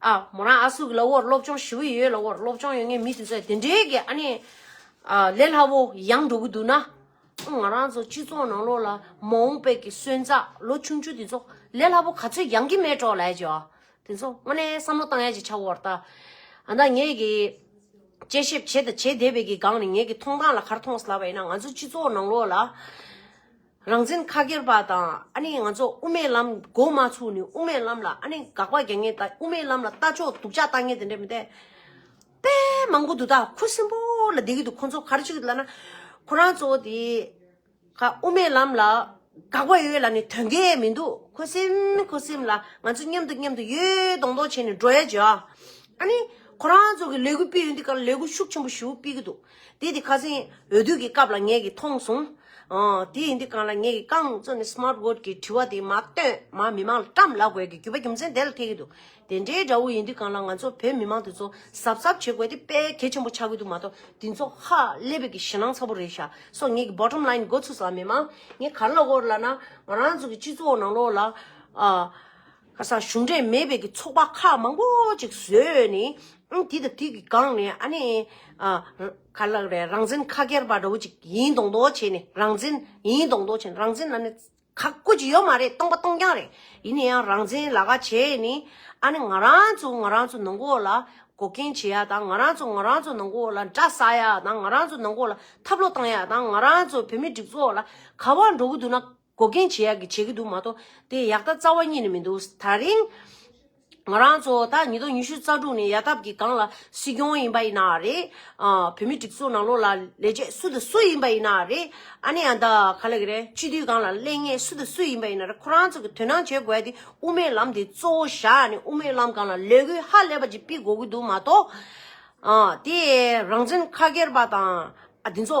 ཨ་མོ་རང་ཨ་སུག་གི་ལ་བོར་སློབ་སྦྱོང་ཞུ་ཡི་ཡོད་ལ་བོར་སློབ་སྦྱོང་ཡོད་ངེས་མི་དེ་ཚོས་དེ་འདྲའི་གི་ཨ་ནི། ཨ་ལས་སླ་བོ་ཡང་འགྲོ་གི་འདུག་ན། ང་རང་ཚོ་སྤྱི་ཚོགས་ནང་ལོགས་ལ་མ་འོངས་པའི་གི་སོན་རྩ་ལོ་ཆུང་ཆུང་དེ་ཚོ་ལས་སླ་བོ་ག་ཚོད་ཡང་གི་མེད་གྲོགས་ལས་ཀྱི་ཨ་དེ་ཚོ་དངོས་ནས་བསམ་བློ་བཏང་ཡ་གྱི་ཆ་བོར་ད། ཨ་ན་ངས་གི། དཔྱད་ཞིབ་བྱེད་དང་བྱེད་བསྡད་པའི་གི་སྒང་ནས་ངས་གི་མཐོང་སྟངས་ལ་གར་མཐོང་སླ་བ་ཡིན་ན་ང་ཚོ་སྤྱི་ཚོགས་ནང་ལོགས་ལ། རང་བཙན་ཁ་སྒེར་པ་དང་ཨ་ནི་ང་ཚོ་དབུ་མའི་ལམ་མགོ་མ་ཚུགས་ནི་དབུ་མའི་ལམ་ལ་ཨ་ནི་དགག་པ་རྒྱག་ངེས་དབུ་མའི་ལམ་ལ་ལྟ་ཕྱོགས་སྡུག་ཅག་བཏང་ངེས་དེ་འདྲས་མི་འདེད། དཔེ་མང་པོ་འདུག་ད་ཁུ་སིམ་པོ་ལ་བསྡད་ཀྱི་འདུག་ཁོང་ཚོ་ག་རེ་བྱེད་ཀྱི་འདུག་ལབ་ན། ཁོ་རང་ཚོ་དེ་ག་དབུ་མའི་ལམ་ལ་དགག་པ་ཡོད་ལ་ནི་དོན་གས་མི་འདུག་ཁུ་སིམ་ཁུ་སིམ་ལ་ང་ཚོ་མཉམ་དུ་མཉམ་དུ་ཡོད་མདོག་མདོག་བྱས་ནས་འགྲོ་ཡ་བྱོས་ཨ། ཨ་ནི་ཁོ་རང་ཚོ་གི་ལས་འགུལ་སྤེལ་ཡུལ་འདི་ག་ལ་ལས་འགུལ་ཤུགས་ཆེན་པོ་བཞི་བོ་སྤེལ་གྱི་འདུག་དེ་དེ་ཁ་སེང་འོས་བསྡུ་གི་སྐབས་ལ་ངེད་ཀྱིས་མཐོང་སོང། དེ་ཡིན་དུས་གང་ལ་ངེད་ཀྱིས་རྐང་བཙུགས་ནས Smart Vote གི་དྲི་བ་དེ་མ་བཏོན་མ་མི་མང་ལ་བཀྲམས་ལ་དགོས་ཀྱི་རྒྱུ་བ་རྒྱུ་མཚན་དེ་ལ་ཐེ་གི་འདུག་དེ་འདྲའི་དགྲ་བོ་ཡིན་དུས་གང་ལ་ང་ཚོ་བོད་མི་མང་དེ་ཚོ་གཟབ་གཟབ་བྱེད་དགོས་དེ་དཔེ་གལ་ཆེན་པོ་ཆགས་ཀྱི་འདུག་མ་གཏོགས་དེ་ཚོ་ཧ་ལས་བོད་ཀྱི་ཞེ་སྣང་ཚ་པོ་རེད་ཤག་སོ་ངེད་ཀྱི Bottom Line འགོ་ཚུགས་སམ་མི་མང་ངེད་གར་ལོག་གོ་ལ་ན་ང་རང་ཚོ་གི་སྤྱི་ཚོགས་ནང་ལོགས་ལ། ཁ་སང་གཞུང་འབྲེལ་མེད་པའི་གི་ཚོགས་པ་ཁག་མང་པོ་ཅིག་བཟོས་ནས། དེ་དང་དེ་གི་སྒང་ནས་ཨ་ནི། ག་ལགས་རེད་རང་བཙན་ཁ་སྐྱེར་པ་འདྲ་བོ་ཅིག་ཡིན་མདོག་མདོག་བྱས་ནས་རང་བཙན་ཡིན་མདོག་མདོག་བྱས་ནས་རང་བཙན་ཨ་ནི། ག་བཀོད་ཀྱི་ཡོད་མ་རེད་སྟོང་པ་སྟོང་རྐྱང་རེད་ཡིན་ནའི་ཡང་རང་བཙན་ལག་ཁ་བྱས་ནས། ཨ་ནི་ང་རང་ཚོ་ང་རང་ཚོ་ནང་འགོག་ལ་འགོག་རྐྱེན་བྱེད་ཡ་དང་ང་རང་ཚོ་ང་རང་ཚོ་ནང་འགོག་ལ་འདྲ་ཟ་ཡ་དང་ང་རང་ཚོ་ནང་འགོག་ལ་ཐབས་ལོ་བཏང་ཡ་དང་ང་རང་ཚོ་བོད་མི་སྒྲིག་ཚོགས་ལ་ག་བ་འགྲོ་གི་འདུག་ན། འགོག་རྐྱེན་ཇེ་ཡག་གི་བྱེད་ཀྱི་འདུག་མ་གཏོགས་དེ་ཡག་ད་རྩ་བ་རྙེད་ནི་མི་འདུག་ད་རིང། ང་རང་ཚོ་ད་ཉིས་སྟོང་ཉི་ཤུ་རྩ་དྲུག་ནས་ཡལ་ཐབས་ཀྱི་སྒང་ལ་སྲིད་སྐྱོང་ཡིན་པ་ཡིན་ན་རེད། བོད་མི་སྒྲིག་འཛུགས་ནང་ལོགས་ལ་ལས་བྱེད་སུ་དང་སུ་ཡིན་པ་ཡིན་ན་རེད། ཨ་ནི་ཡང་ད་ག་ལ་གི་རེད་སྤྱི་འཐུས་སྒང་ལ་གླེང་ངེས་སུ་དང་སུ་ཡིན་པ་ཡིན་ན་རེད་ཁོ་རང་ཚོ་གི་དོན་སྣང་བྱེད་དགོས་ཡ་དེ་དབུ་མའི་ལམ་དེ་གཙོ་བོ་བཞག་ནས་དབུ་མའི་ལམ་སྒང་ལ་ལས་འགུལ་ཧ་ལས་པ་ཅིག་སྤིག་དགོས་ཀྱི་འདུག་མ་གཏོགས། དེ་རང་བཙན་ཁ་སྒེར་པ་དང་འདི་ཚོ།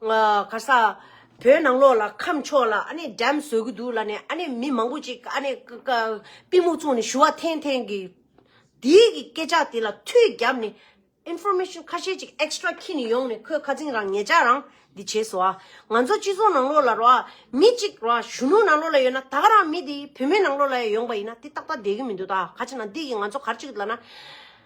གར་ས། བོད་ནང་ལོགས་ལ་ཁམས་ཕྱོགས་ལ་ཨ་ནེ་འགྲམ་བཟོས་ཀྱི་འདུག་ལ་ནས་ཨ་ནེ་མི་མང་པོ་ཅིག་ཨ་ནེ་པི་མུག་བཙོང་ནས་ཞུ་བ་འཐེན་འཐེན་གི། དེའི་གི་སྐད་ཆ་དེ་ལ་ཐུགས་རྒྱབ་ནས། Information ཁ་ཤས་ཅིག Extra ཁྱེར་ནས་ཡོང་ནས་ཁོས་ཁ་ཚིང་རང་ངེད་ཅག་རང་འདི་བྱས་སོ། ང་ཚོ་སྤྱི་ཚོགས་ནང་ལོགས་ལ་རོ། མི་གཅིག་རོ་གཞོན་ནུ་ནང་ལོགས་ལ་ཡོད་ན་ད་ག་རང་མི་དེ་བུད་མེད་ནང་ལོགས་ལ་ཡང་ཡོང་པ་ཡིན་ན་དེ་ཏག་ཏག་བསྡད་ཀྱི་མི་འདུག་ད་ག་ཅིག་ན་འདི་གི་ང་ཚོ་གར་ཅིག་ལ་ན།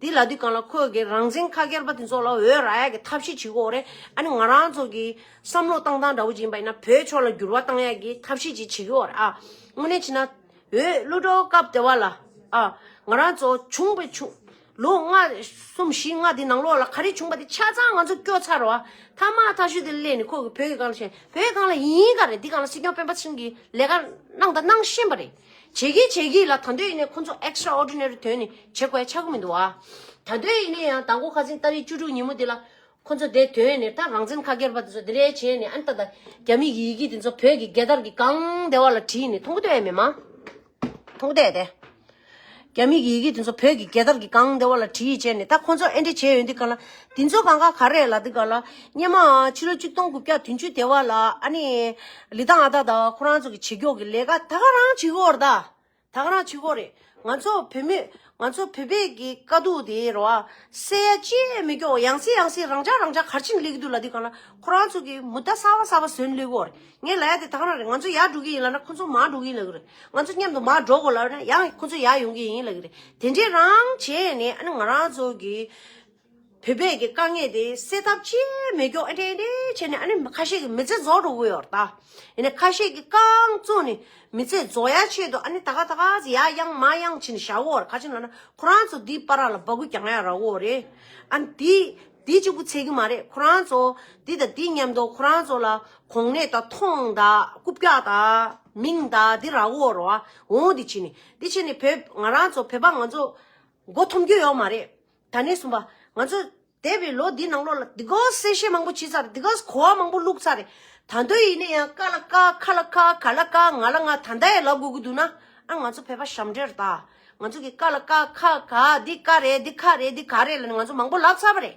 དེ་ལ་དུས་གང་ལ་ཁོས་ཀྱི་རང་བཙན་ཁ་ཁྱེར་པ་དེ་ཚོ་ལ་འོས་ར་ཡག་གི་ཐབས་ཤེས་བྱེད་དགོས་རེད་ཨ་ནི་ང་རང་ཚོ་གི་བསམ་བློ་གཏང་སྟངས་འདྲ་བོ་ཅིག་ཡིན་པ་ཡིན་ན་བོད་ཕྱོགས་ལ་འགྱུར་བ་གཏང་ཡག་གི་ཐབས་ཤེས་ཅིག་བྱེད་དགོས་རེད་ཨ་དངོས་གནས་བྱས་ན་འོས་བླུ་བྲོ་སྐབས་དེ་བ་ལ་ཨ་ང་རང་ཚོ་བྱུང་བའི་ཆུང་ལོ་ལྔ་གསུམ་བཞི་ལྔ་དེ་ནང་ལོགས་ལ་ག་རེ་བྱུང་བ་དེ་ཆ་ཚང་ང་ཚོ་སྐྱོ་ཚར་རོ་ཨ་མཐའ་མ་ཐག་ཤུད་དེ་སླེབས་ནས་ཁོས་ཀྱི་བོད་ཀྱི་གང་ལ་བྱས་བོད་གང་ལ་ཡིན་ག་རེ་འདི་གང་ལ་སྲིད་སྐྱོང་སྤེན་པ་ཚུན་གྱི་ལས་ཀ་གནང་དང་གནང་ཤེས་པ་རེད། ཇེ་སྐྱིད་ཇེ་སྐྱིད་ལ་ད་འདོད་ཡིན་ནའི་ཁོ་ཚོ Extra Ordinary དོན་ནི་བྱེད་དགོས་ཆགས་ཀྱི་མི་འདུག་ཨ། ད་འདོད་ཡིན་ནའི་ཡང་དང་གོ་ཁ་ཟིན་ལྟ་རིས་བཅུ་དྲུག་ཉིན་མོ་དེ་ལ། ཁོ་ཚོ་དེ་དོན་ནི་ད་རང་བཙན་ཁ་སྒེར་པ་དེ་ཚོ་དེ་འདྲའི་བྱས་ནས་ཨན་ཏ་ད་རྒྱ་མི་གི་ཡི་གེ་དེ་ཚོ་བོད་ཀྱི་རྒྱལ་དར་གི་གང་བདེ་བ་ལ་བྲིས་ནས་མཐོང་གི་འདོད་ཡ་མེད་མ། མཐོང་གི་འདོད་ཡ་དེ། རྒྱ་མིག་གི་ཡི་གེ་དེ་ཚོ་བོད་ཀྱི་རྒྱལ་དར་གྱི་སྒང་བདེ་བ་ལ་བྲིས་ཡོད་ཅེས་ནས་ད་ཁོ་ཚོ་ཨེ་འདྲས་བྱས་ཡོད་འདི་ག་ལ། འདི་ཚོ་གང་ག་ག་རེད་ལ་འདི་ག་ལ། སྙེ་མ་ཨ་ཕྱི་ལོ་ཅུ་སྟོང་དགུ་བརྒྱ་དུན་ཅུ་བདེ་བ་ལ་ཨ་ནི། ལི་ཐང་ཨ་ད་ད་ཁོ་རང་ཚོ་གི་བྱེད་རྒྱོག་གི་ལས་ཀ་ད་ག་རང་བྱེད་ཁོ་རྡ། ད་ག་རང་བྱེད་ཁོ་རེད་ང་ཚོ་བོད་མི། ང་ཚོ་བོད་པས་གི་དཀའ་སྡུག་དེ་ར་བ། སེ་ཡ་ཅི་ཡས་མི་རྒྱོག་ཡང་སེ་ཡང་སེ་རང་ཅག་རང་ཅག་གར་ཕྱིན་སླེ་གི་འདུག་ལ་འདི་ག་ལ་ཁོ་རང་ཚོ་གི་མུ་ད་ས་བ་ས་བ་ཟོན་སླེ་ཁོ་རེད། ངས་ལ་ཡ་དེ་དང་ར་རེད་ང་ཚོ་ཡར་འགྲོ་གི་ཡིན་ལ་ན་ཁོ་ཚོ་མར་འགྲོ་གི་ཡིན་ལ་ཀི་རེད་ང་ཚོ་མཉམ་དུ་མར་འགྲོ་དགོས་ལ་ན་ཡང་ཁོ་ཚོ་ཡར་ཡོང་གི་ཡིན་ལ་ཀི་རེད་དེ་འདྲའི་རང་བྱས་ནས་ཨ་ནི་ང་རང་ཚོ་གི་བོད་པས་ཀྱི་དཀའ་ངལ་དེ་སེལ་ཐབས་ཅི་མི་སྐྱོ་ཨེ་འདྲས་འདྲས་བྱས་ནས་ཨ་ནི་ཁ་ཤས་ཀྱི་མི་ཚེ་རྫོགས་འགྲོ་གི་ཡོད་རེད་ད་ཡིན་ན་ཁ་ཤས་ཀྱི་རྐང་བཙུགས་ནས་མི་ཚེ་རྫོགས་ཡ་ཆེད་དུ་ཨ་ནི་ད་ག་ད་ག་ཟིག་ཡ་གཡང་མ་གཡང་བྱས་ནས་བཞག་གོ་ར་ཁ་ཆེམས་ལ་ན་ཁོ་རང་ཚོ་འདིའི་པ་ར་ལ་འབག་གུ་གྱང་ཡ་ར་གོ་རེད་ཨ་ནི་དེ་དེ་གཅིག་པུ་ཚད་ཀྱི་མ་རེད་ཁོ་རང་ཚོ་འདི་དང་འདི་མཉམ་དུ་ཁོ་རང་ཚོ་ལ་གོང་ནས་ད་ཐོངས་ད་རྐུབ་བཀྱག་ད་མིང་ད་འདི་ར་འོ་ར་འོ་འདི་བྱས་ནས་འདི་བྱས་ནས་བོད་ང་རང་ཚོ་བོད་པ་ང་ཚོ་མགོ་འཐོམ་རྒྱུ་ཡོད་མ་རེད། ད་ནས་གསུམ་པ་ང་ཚོ་འདས་པའི་ལོ་འདིའི་ནང་ལོགས་ལ་འདི་གོ་གསལ་བཤད་མང་པོ་བྱས་ཚར་འདི་ག་གོ་བ་མང་པོ་བླུགས་ཚར་རེད། ད་འདོད་ཡིན་ན་ཡང་ཀ་ལ་ཀ་ཁ་ལ་ཁ་ག་ལ་ཀ་ང་ལ་ང་ད་ལྟ་ཡང་ལབ་དགོས་ཀྱི་འདུག་ན་ཨ་ང་ཚོ་བོད་པ་ཞབས་འདྲེར་ད་ང་ཚོ་གི་ཀ་ལ་ཀ་ཁ་ག་འདི་ཀ་རེད་འདི་ཁ་རེད་འདི་ག་རེད་ལ་ནི་ང་ཚོ་མང་པོ་ལབ་ཚར་བ་རེད།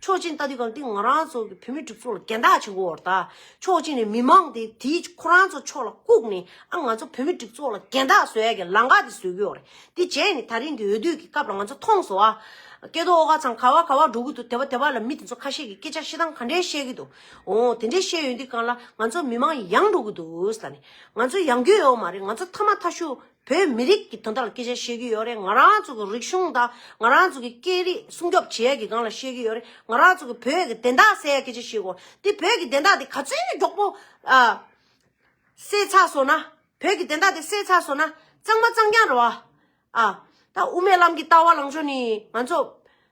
ཆོག་ཅིན་ལྟ་དུས་གང་ཐེངས་ང་རང་ཚོ་བོད་མི་གྲུབ་ཚོགས་ལ་འགལ་ཟླ་བྱེད་མགོ་བར་ཐག་ཆོག་ཅིན་ནས་མི་མང་དེ་དེའི་ཁོ་རང་ཚོ་ཕྱོགས་ལ་བཀུག་ནས་ཨ་ང་ཚོ་བོད་མི་གྲུབ་ཚོགས་ལ་འགལ་ཟླ་བཟོ་ཡ་གི་ལང་ཀ་དེ་བཟོས་གི་ཡོག་རེད་དེ་བྱས་ནས་ད་རིང་གི་འོས་བསྡུ་གི་སྐབས་ལ་ང་ཚོ་མཐོང་སོང་ཨ། སྐལ་རྡོ་ཨོ་ག་ཚང་ག་བ་ག་བ་འགྲོ་གི་འདུག་དེ་བ་དེ་བ་ལ་མི་དེ་ཚོ་ཁ་ཤས་ཀྱི་སྐད་ཆ་ཤི་སྟངས་ག་འདྲའི་བཤད་གི་འདུག་ཨོ་དེ་འདྲའི་བཤད་ཡོད་དུས་གང་ལ་ང་ཚོ་མི་མང་ཡང་འགྲོ་གི་འདུག་ལ་ནས་ང་ཚོ་ཡང་འགྱོད་ཡོག་མ་རེད་ང་ཚོ་མཐའ་མ་མཐའ་ཤུ། བོད་མི་རིགས་ཀྱི་དོན་དག་ལ་སྐད་ཆ་བཤད་རྒྱུ་ཡོད་རེད་ང་རང་ཚོ་གི་རིག་གཞུང་དང་ང་རང་ཚོ་གི་སྐད་རིགས་སྲུང་སྐྱོབ་བྱེད་ཡག་གི་སྒང་ལ་བཤད་རྒྱུ་ཡོད་རེད་ང་རང་ཚོ་གི་བོད་ཀྱི་བདེན་རྟགས་གསལ་ཡག་སྐད་ཆ་བཤད་དགོས་དེ་བོད་ཀྱི་བདེན་རྟགས་དེ་ག་ཚོད་ནས་མགྱོགས་པོ་གསལ་ཚགས་སོང་ན་བོད་ཀྱི་བདེན་རྟགས་དེ་གསལ་ཚགས་སོང་ན་གཙང་མ་གཙང་རྐྱང་རེད་བ། ད་དབུ་མའི་ལམ་གྱི་ལྟ་བ་ལངས་ཕྱོགས་ནི་ང་ཚོ་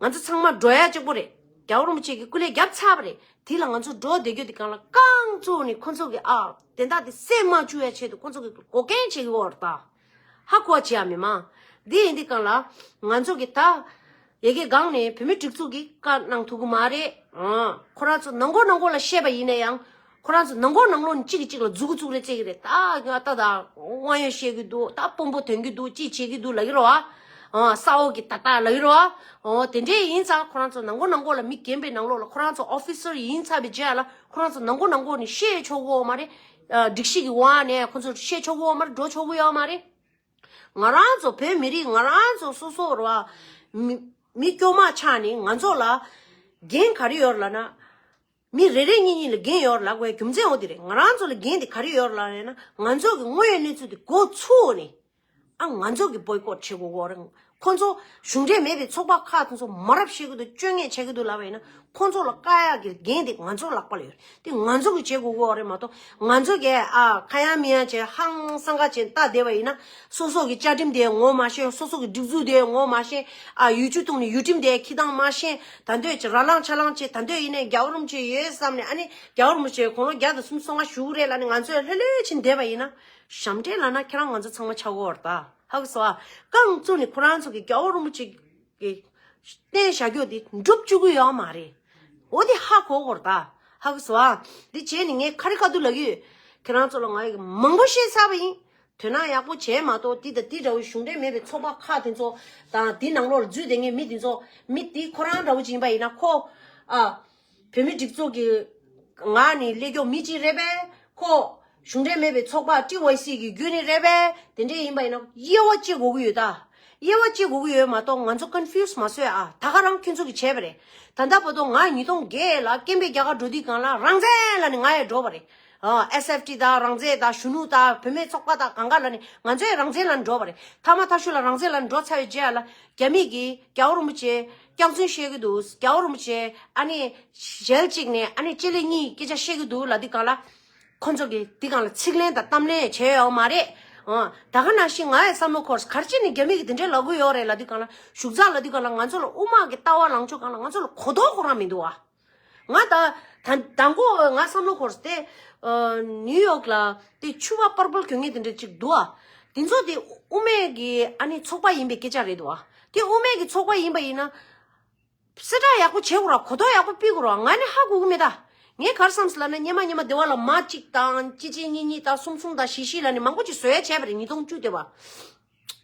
ང་ཚོ་ཚང་མ་འགྲོ་ཡ་གཅིག་པོ་རེད་རྒྱ་བོར་རིན་པོ་ཆེ་གི་སྐུ་ལས་རྒྱབ་ཚར་བ་རེད་དེ་ལ་ང་ཚོ་འགྲོ་བསྡད་རྒྱུ་དེ་གང་ལ་རྐང་གཙོ་བོ་ནི་ཁོ་ཚོ་གི་ཨ་དེ་དག་དེ་སེམས་མ་བཅུག་ཡ་ཆེད་དུ་ཁོ་ཚོ་གི་འགོག་རྐྱེན་བྱེད་ཀྱི་འོར་ད་ཧ་གོ་བ་བྱེད་ཡ་མི་མང་དེ་ཡིན་དེ་གང་ལ་ང་ཚོ་གི་ད་ཡེ་གེ་སྒང་ནས་བུད་མེད་སྒྲིག་འཛུགས་ཀྱི་བཀའ་གནང་ཐུག་གི་མ་རེད་ཨ་ཁོ་རང་ཚོ་ནང་གོ་ནང་གོ་ལ་བཤད་པ་ཡིན་ན་ཡང། ཁོ་རང་ཚོ་ནང་སྒོར་ནང་ལོག་ནས་གཅིག་གིས་གཅིག་ལ་རྫུག་གི་རྫུག་རེ་རྩེད་ཀྱི་རེད་ད་ང་ད་ད་དབང་ཡོད་བཤད་ཀྱི་འདུག་ད་དཔོན་པོ་དོན་གྱི་འདུག་ཅི་བྱེད་ཀྱི་འདུག་ལབ་ཀྱི་རོགས་ཨ། ཨོ་ས་འོག་གི་ད་ད་ལབ་ཀྱི་རོགས་ཨ། ཨོ་དེ་འདྲས་ཡིན་ཙང་ཁོ་རང་ཚོ་ནང་སྒོར་ནང་སྒོར་ལ་མི་གྱེན་པའི་ནང་ལོག་ལ་ཁོ་རང་ཚོ Officer ཡིན་ཚར་བའི་རྗེས་ལ་ཁོ་རང་ཚོ་ནང་སྒོར་ནང་སྒོར་ནས་བཤད་ཆོག་གི་འོག་མ་རེད། སྒྲིག་གཞི་གི་དབང་ནས་ཁོ་ཚོར་བཤད་ཆོག་གི་འོག་མ་རེད་འགྲོ་ཆོག་གི་ཡོད་མ་རེད། ང་རང་ཚོ་བོད་མི་རིགས་ང་རང་ཚོ་སོ་སོ་ར་བ། མི་སྐྱོ་མ་ཆགས་ནས་ང་ཚོ་ལ་འགན་ག་རེ་ཡོད་ལ་ན། མི་རེ་རེ་གཉིས་གཉིས་ལ་འགན་ཡོད་ར་ལགས་པའི་རྒྱུ་མཚན་འོ་དེ་རེད་ང་རང་ཚོ་ལ་འགན་དེ་ག་རེ་ཡོད་ར་ལགས་རེད་ན་ང་ཚོ་གི་དངོས་ཡོད་གནས་ཚུལ་དེ་གོ་ཚུ་འོ་ནི་ཨ་ང་ཚོ་གི་བོའི་ཀོར་བྱེད་གོ་འོ་ར་ཁོ་ཚོ་གཞུང་འབྲེལ་མེད་པའི་ཚོགས་པ་ཁག་དང་ཚོ་མ་ར་བཤད་གི་འདུག་བཅོས་ངས་བྱེད་གི་འདུག་ལགས་པའི་ན་ཁོ་ཚོ་ལ་དཀའ་ཡག་གི་འགན་དེ་ང་ཚོ་ལགས་པ་ལ་ཡོད་དེ་ང་ཚོ་གི་བྱེད་གོ་འོ་ར་མ་གཏོགས་ང་ཚོ་གས་ཨ་ཁ་ཡང་མི་ཡང་བྱེད་ཧང་སང་ག་བྱེད་ད་དེ་བ་ཡིན་ན་སོ་སོ་གི་བཅའ་ཁྲིམས་དེ་ངོ་མ་ཤེས་སོ་སོ་གི་སྒྲིག་འཛུགས་དེ་ངོ་མ་ཤེས། ཨ་ཡུལ་ཆུ་འཐུང་ནི་ཡུལ་ཁྲིམས་དེ་ཁྱི་དང་མ་ཤེས། ད་འདོད་ཆེ་ར་ལངས་ཆ་ལངས་བྱེད་ད་འདོད་ཡིན་ནའི་རྒྱ་བོར་རུམ་བྱེད་ཡོད་བསམ་ནས་ཨ་ནི་རྒྱ་བོར་རུམ་བྱེད་གོང་ལོ་བརྒྱ་དང་སུམ་སོ་ལྔ་བཞུགས་གི་རེད་ལ་ནི་ང་ཚོས་ལྷོད་ལྷོད་ཕྱིན་བསྡད་པ་ཡིན་ན། ཞབས་འདྲེན་ལགས་ན་ཁྱེད་རང་ང་ཚོ་ཚང་མ་ཆ་བགོར་ད་ཧ་གི་སོ་ཨ། རྐང་བཙུགས་ནས་ཁོ་རང་ཚོ་གི་རྒྱ་བོར་རུམ་བྱེད་ཀྱི་རྟེན་བཞག་རྒྱུ་དེ་འགྲུབ་བཅུག་གི་ཡོད་མ་རེད། འོ་དེ་ཧ་གོ་བགོར་ད་ཧ་གི་སོ་ཨ། དེ་བྱས་ནས་ངས་ཁ་རི་ཁ་ཐུག་ལབ་ཡོད། ཁྱེད་རང་ཚོ་ལ་ང་ཡི་གེ་མང་པོ་ཤེས་ཚར་བ་ཡིན། དོན་སྣང་ཡག་པོ་བྱས་མ་གཏོགས་འདི་དང་འདི་འདྲ་བོའི་གཞུང་འབྲེལ་མེད་པའི་ཚོགས་པ་ཁག་དེ་ཚོ་དང་དེ་ནང་ལོག་ལ་འཛུལ་བསྡད་ངེས་མི་དེ་ཚོ་མི་དེ་ཁོ་རང་འདྲ་བོ་ཅིག་ཡིན་པ་ཡིན་ན་ཁོ། ཨ། བོད་མི་སྒྲིག་འཛུགས་ཀྱི། ང་ནི་ཀླད་སྐྱོག་མི་གཅིག་རེད་པས། ཁོ། གཞུང་འབྲེལ་མེད་པའི་ཚོགས་པ་ཀྲི་ཝེ་སི་ཀྱི་རྒྱུན་ནི་རེད་པས་དེ་འདྲས་ཡིན་པ་ཡིན་ན་དབྱེ་བ་ཅི་གོ་གི་ཡོད་ད། དབྱེ་བ་ཅི་གོ་གི་ཡོད་མ་གཏོགས་ང་ཚོ confuse མ་བཟོས་ཨ་ད་ག་རང་ཁྱོད་ཚོ་གི་བྱས་པ་རེད་ད་ད་བོ་དོ་ང་ཉིས་སྟོང་བརྒྱད་ལ་ཀེམ་པའི་རྒྱ་གར་འགྲོ་དུས་གང་ལ་རང་བཙན་ལ་ནི་ང་ཡ་འགྲོ་བ་རེད། SFT དང་རང་བཙན་དང་གཞོན་ནུ་དང་བུད་མེད་ཚོགས་པ་དང་གང་ག་ལ་ནི་ང་ཚོས་རང་བཙན་ལ་འགྲོ་བ་རེད་མཐའ་མ་ཐ་ཤུ་ལ་རང་བཙན་ལ་འགྲོ་ཚར་བའི་རྗེས་ལ་རྒྱ་མིས་ཀྱིས་རྒྱ་བོ་རིན་པོ་ཆེ་སྐྱག་རྫུན་བཤད་གི་འདུག་རྒྱ་བོ་རིན་པོ་ཆེ་ཨ་ནི་ཞལ་གཅིག་ནས་ཨ་ནི་ལྕེ་ལེ་གཉིས་སྐད་ཆ་བཤད་གི་འདུག་ལ་འདི་གང་ལ། ཁོ་ཚོ་གིས་འདི་གང་ལ་ཚིག་ལན་དང་གཏམ་ལན་བྱས་ཡོད་མ་རེད། ད་ག་ནང་བཞིན་ང་ཡི་བསམ་བློ་འཁོར་གར་སྤྱི་ནི་རྒྱ་མི་གིས་དེ་འདྲའི་ལ་དགོས་ཡོད་རེད་ལ་འདི་གང་ལ་བཞུགས་ཚར་ལ་འདི་གང་ལ་ང་ཚོ་ལ་དབུ་དམག་གི་ལྟ་བ་ལངས་ཕྱོགས་གང་ལ་ང་ཚོ་ལ་གོ་རྟོགས་ཁོ་རང་མི་འདུག་བ། ང་ད་ད་མགོ་ང་བསམ་བློ་འཁོར་སྟེ། New York ལ་དེ་ཆུ་བ་པར་པོལ་གྱོན་ངེས་དེ་འདྲ་གཅིག་འདུག་ཨ། དེ་ཚོ་དེ་དབུ་མེད་ཀྱི་ཨ་ནི་ཚོགས་པ་ཡིན་པའི་སྐད་ཆ་རེད་འདུག་ཨ། དེ་དབུ་མེད་ཀྱི་ཚོགས་པ་ཡིན་པ་ཡིན་ན། གསལ་བསྒྲགས་ཡག་པོ་བྱེད་དགོས་ར་གོ་རྟོགས་ཡག་པོ་སྤེལ་དགོས་ར་ང་ནི་ཧ་གོ་གི་མེད་ད། ངས་གར་བསམ་ཟི་ལ་ན་སྙེ་མ་སྙེ་མ་དེ་བ་ལ་མ་གཅིག་དང་གཅིག་གཅིག་གཉིས་གཉིས་དང་གསུམ་གསུམ་དང་བཞི་བཞི་ལ་ནི་མང་པོ་ཅིག་བཟོས་ཡ་བྱས་པ་རེད་ཉིས་སྟོང་བཅུ་དེ་བ།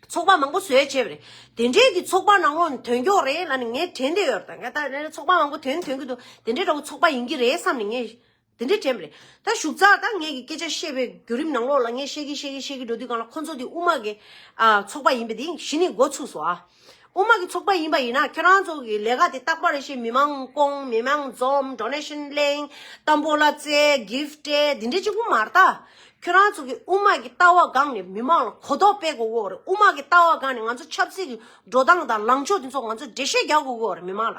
ཚོགས་པ་མང་པོ་བཟོས་བྱས་པ་རེད། དེ་འབྲེལ་གྱི་ཚོགས་པ་ནང་ལོགས་དོན་འཁྱོག་རེད་ལ་ནི་ངས་དྲན་བསྡད་ཡོད་རེད། ད་ལྟ་ཚོགས་པ་མང་པོ་དོན་དོན་གྱི་འདུག་དེ་འདྲའི་འདྲ་བོ་ཚོགས་པ་ཡིན་གྱི་རེད་བསམ་ནས་ངས་དེ་འདྲས་དྲན་པ་རེད། ད་བཞུགས་ཙག་ཏག་ངས་ཀྱི་སྐད་ཆ་བཤད་པའི་བརྒྱུད་རིམ་ནང་ལོགས་ལ་ངས་བཤད་གིན་བཤད་གིན་བཤད་གིན་འགྲོ་དུས་གང་ལ་ཁོ་ཚོ་དེ་དབུ་མ་གི་ཚོགས་པ་ཡིན་པ་དེ་གཞི་ནས་འགོ་ཚུགས་སོ་ཨ། དབུ་མ་གི་ཚོགས་པ་ཡིན་པ་ཡིན་ན་ཁྱོད་རང་ཚོ་གི་ལས་ཀ་དེ་རྟག་པ་རེད་ཤེས་མི་མང་སྐོང་མི་མང་འཛོམས Donation གླེང་དམ་པོ་ལ་བརྩེ Gift སྤྲད་དེ་འདྲས་ཅིག་དབུ་མར་ལྟ། ཁྱོད་རང་ཚོ་གི་དབུ་མ་གི་ལྟ་བ་སྒང་ནས་མི་མང་ལ་གོ་རྟོགས་སྤེལ་དགོས་གོ་རེད་དབུ་མ་གི་ལྟ་བ་སྒང་ནས་ང་ཚོ་ཆབ་སྲིད་གི་འགྲོ་སྟངས་དང་ལངས་ཕྱོགས་དེ་ཚོ་ང་ཚོ་འགྲེལ་བཤད་རྒྱག་དགོས་གོ་རེད་མི་མང་ལ།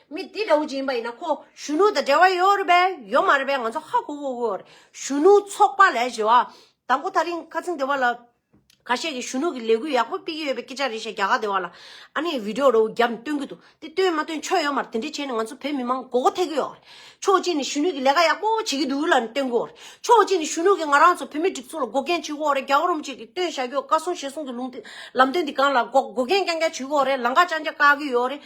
མི་འདི་འདྲ་བོ་ཅིག་ཡིན་པ་ཡིན་ན་ཁོ་གཞོན་ནུ་དང་འབྲེལ་བ་ཡོད་རེད་པས་ཡོད་མ་རེད་པས་ང་ཚོ་ཧ་གོ་གོ་གོ། གཞོན་ནུ་ཚོགས་པ་ལས་བྱེད་བ་དང་པོ་ཐག་རིང་ཁ་ཚིང་སྡེ་བ་ལ། ཁ་ཤས་ཀྱིས་གཞོན་ནུ་གི་ལས་འགུལ་ཡག་པོ་སྤེལ་གྱི་ཡོད་པའི་སྐད་ཆ་རེ་བཤད་རྒྱ་གར་སྡེ་བ་ལ། ཨ་ནེས་བིདེའོ་རོའུ་རྒྱབ་ནས་སྟོན་གྱི་འདུག་དེ་སྟོན་མ་སྟོན་ཆོ་ཡོད་མ་རེད་དེ་འདྲས་བྱས་ནས་ང་ཚོ་བོད་མི་མང་མགོ་སྐོ་ཐེག་གི་ཡོད་རེད། ཕྱོགས་གཅིག་ནས་གཞོན་ནུ་གི་ལས་ཀ་ཡག་པོ་བྱེད་ཀྱི་འདུག་ལ་སྟོན་གི་ཡོད་རེད། ཕྱོགས་གཅིག་ནས་གཞོན་ནུ་གིས་ང་རང་ཚོ་བོད་མི་སྒྲིག་འཛུགས་ལ་འགོག་རྐྱེན་བྱེད་གི་ཡོད་རེད་རྒྱ་གོ་རུམ་བཅས་ཀྱིས་སྟོན་བཞག་གི་ཡོད་བཀའ་གསུང་ཞལ་གསུང་གི་ལུང་ལམ་སྟོན་འདི་གང་ལ་འགོག་འགོག་རྐྱེན་རྐྱང་རྐྱང་བྱེད་གི་ཡོད་རེད་ལང་ཀ་ཅང་ཅང་བཀག་གི་ཡོད་རེད།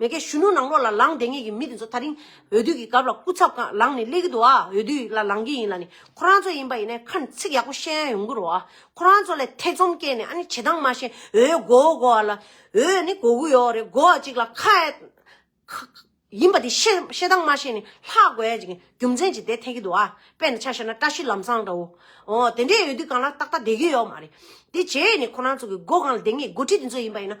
མེ་ཁའི་གཞོན་ནུ་ནང་ལོགས་ལ་ལངས་བསྡད་ངེས་ཀྱི་མི་དེ་ཚོ་ད་རིང་འོས་བསྡུ་གི་སྐབས་ལ་སྐུ་ཚབ་གང་ལངས་ནས་སླེབས་ཀྱི་འདུག་ཨ་འོས་བསྡུ་ལ་ལངས་ཀྱི་ཡིན་ལ་ནི་ཁོ་རང་ཚོ་ཡིན་པ་ཡིན་ནའི་ཁ་ཚིག་ཡག་པོ་བཤད་ཡ་ཡོང་གི་རོགས་ཨ་ཁོ་རང་ཚོ་ལས་ཐེ་ཚོམ་སྐྱེས་ནས་ཨ་ནི་བྱེད་སྟངས་མ་ཤེས་འོས་བགོ་བོ་བགོ་བ་ལ་འོས་ནི་བགོ་གི་ཡོག་རེད་བགོ་བ་ཅིག་ལ་ཁ་ཡིན་པ་དེ་བཤད་སྟངས་མ་ཤེས་ནས་ལྷག་དགོས་ཡ་ཅིག་རྒྱུ་མཚན་ཅིག་བསྡད་ཐེ་གི་འདུག་ཨ་དཔེ་ན་ཆ་བཤད་ན་བཀྲ་ཤིས་ལམ་སང་འདྲ་བོ་ཨོ་དེ་འདྲའི་འོས་བསྡུ་གང་ལ་ཏག་ཏག་བསྡད་གི་ཡོག་མ་རེད་དེ་རྗེས་ནས་ཁོ་རང་ཚོ་གི་བགོ་གང་ལ་བསྡད་ངེས་བགོ་ཁྲིད་དེ་ཚོ་ཡིན་པ་ཡིན་ན་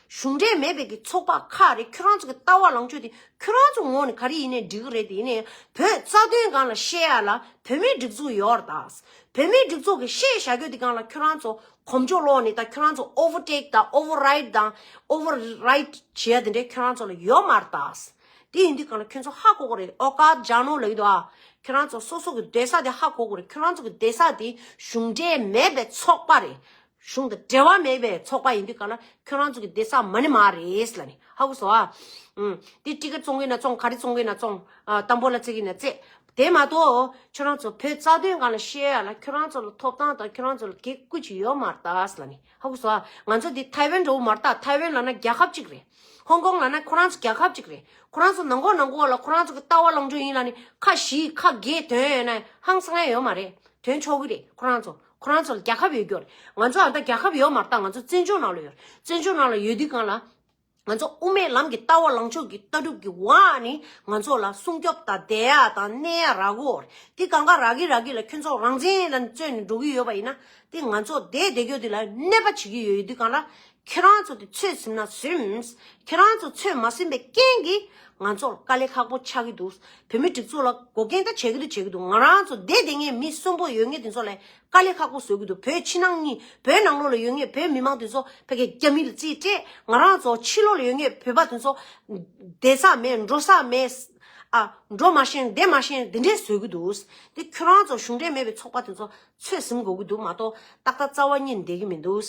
གཞུང་འབྲེལ་མེད་པའི་གི་ཚོགས་པ་ཁག་རེ་ཁྱོད་རང་ཚོ་གི་ལྟ་བ་ལང་ཕྱོགས་དེ་ཁྱོད་རང་ཚོ་ངོ་ནས་ག་རེ་ཡིན་ནའི་འགྲིག་གི་རེད་དེ་ཡིན་ནའི་བོད་རྩ་དོན་གང་ལ་བཤད་ཡ་ལ་བོད་མིའི་སྒྲིག་འཛུགས་ཡོའོ་ར་དྭགས་བོད་མིའི་སྒྲིག་འཛུགས་གི་བཤད་བྱ་གྱོད་དེ་གང་ལ་ཁྱོད་རང་ཚོ་གོམ་ཆོ་ལོག་ནས་དང་ཁྱོད་རང་ཚོ་ཨོ་བོ་ཏེག་དང་ཨོ་བོ་རེད་དང་ཨོ་བོ་རེད་བྱེད་ཡ་དེ་འདྲ་ཁྱོད་རང་ཚོ་ལ་ཡོའོ་མ་ར་དྭགས་དེ་ཡིན་དུས་གང་ལ་ཁྱོད་ཚོ་ཧ་གོ་གི་རེད་ཨོ་ཀ་ཇ་ནོ་ལ་ཡོད་དོ་ཨ་ཁྱོད་རང་ཚོ་སོ་སོ་གི་སྡོད་ས་དེ་ཧ་གོ་གི་རེད་ཁྱོད་རང་ཚོ་གི་སྡོད་ས་དེ་གཞུང་འབྲེལ་མེད་པའི་ཚོགས་པ་རེད། གཞུང་དང་འབྲེལ་བ་མེད་པའི་ཚོགས་པ་ཡིན་དུས་ག་ལ་ཁྱོད་རང་ཚོ་གི་དེ་ས་མ་ནི་མ་རེད་ལ་ནི་ཧ་གོ་སོ་ཨ། དེ་ཀྲི་ཀ་བཙོང་གི་ན་བཙོང་ག་རེ་བཙོང་གི་ན་བཙོང་དམ་པོ་ལ་བརྩེ་གི་ན་བརྩེ། དེ་མ་གཏོགས་ཁྱོད་རང་ཚོ་བོད་རྩ་དོན་གང་ལ་བཤད་ཡ་ལ་ཁྱོད་རང་ཚོ་ལ་ཐོབ་ཐང་དང་ཁྱོད་རང་ཚོ་ལ་གེགས་བཀུ་ཅི་ཡོད་མ་རྟགས་ལ་ནི་ཧ་གོ་སོ་ཨ། ང་ཚོ་དེ་ཐའེ་ཝན་འགྲོ་བོ་མ་རྟགས་ཐའེ་ཝན་ལ་ན་རྒྱལ་ཁབ་གཅིག་རེད། ཧོང་ཀོང་ལ་ན་ཁོ་རང་ཚོ་རྒྱལ་ཁབ་གཅིག་རེད། ཁོ་རང་ཚོ་ནང་གོ་ནང་གོ་ལ་ཁོ་རང་ཚོ་གི་ལྟ་བ་ལོངས་སྤྱོད་ཡིན་ལ་ནི་ཁ་བཞི་ཁ་བརྒྱད་དོན་ཡོད་ན་ཧང་སང་ཡ་ཡོད་མ་རེད་དོན་ཆོག་གི་རེད་ཁོ་རང་ཚོ། ཁོ་རང་ཚོ་ལ་རྒྱལ་ཁབ་ཡོད་རྒྱུ་རེད་ང་ཚོ་ད་རྒྱལ་ཁབ་ཡོད་མ་ཐག་ང་ཚོ་བཙན་བྱོལ་ནང་ལ་ཡོད་བཙན་བྱོལ་ནང་ལ་ཡོད་དུས་གང་ལ་ང་ཚོ་དབུ་མའི་ལམ་གྱི་ལྟ་བ་ལངས་ཕྱོགས་ཀྱི་ལྟ་གྲུབ་ཀྱི་བ་ནི་ང་ཚོ་ལ་སྲུང་སྐྱོབ་དང་བདེ་ཡག་དང་གནས་ཡག་རག་གོ་རེད་དེ་གང་ག་རག་གི་རག་གི་ལ་ཁྱོད་ཚོ་རང་བཙན་ལ་བརྩོན་ནས་འགྲོ་གི་ཡོད་པ་ཡིན་ན་དེ་ང་ཚོ་བསྡད་བསྡད་ཀྱོ་དེ་ལ་གནས་པ་བྱེད་ཀྱི་ཡོད་དུས་གང་ལ་ཁྱེད་རང་ཚོ་དེ་ཚོད་ཟིན་ན་ཟིན། ཁྱེད་རང་ཚོ་ཚོད་མ་ཟིན་པའི་རྐྱེན་གྱིས་ང་ཚོར་དཀའ་ལས་ཁག་པོ་ཆགས་ཀྱི་འདུག་བོད་མི་སྒྲིག་འཛུགས་ལ་འགོག་རྐྱེན་ད་བྱེད་ཀྱི་འདུག་བྱེད་ཀྱི་འདུག་ང་རང་ཚོ་སྡེ་དེ་སྔའི་མི་གསོན་པོ་ཡོད་ངེས་དེ་ཚོ་ལ་དཀའ་ལས་ཁག་པོ་བཟོ་གྱི་འདུག་བོད་ཕྱི་ནང་གཉིས་བོད་ནང་ལོགས་ལ་ཡོད་ངེས་བོད་མི་མང་དེ་ཚོ་ཕ་གི་རྒྱ་མི་ལ་རྩིས་སྤྲད་ང་རང་ཚོ་ཕྱི་ལོགས་ལ་ཡོད་ངེས་བོད་པ་དེ་ཚོ་བསྡད་ས་མེད་འགྲོ་ས་མེད། འགྲོ་མ་ཤེས་བསྡད་མ་ཤེས་དེ་འདྲས་བཟོ་གྱི་འདུག་དེ་ཁྱོད་རང་ཚོ་གཞུང་འབྲེལ་མེད་པའི་ཚོགས་པ་དེ་ཚོ་ཚོད་ཟིན་དགོས་ཀྱི་འདུག་མ་གཏོགས་ཏག་ཏག་རྩ་བ་ཉིད་འདེད་ཀྱི་མི་འདུག་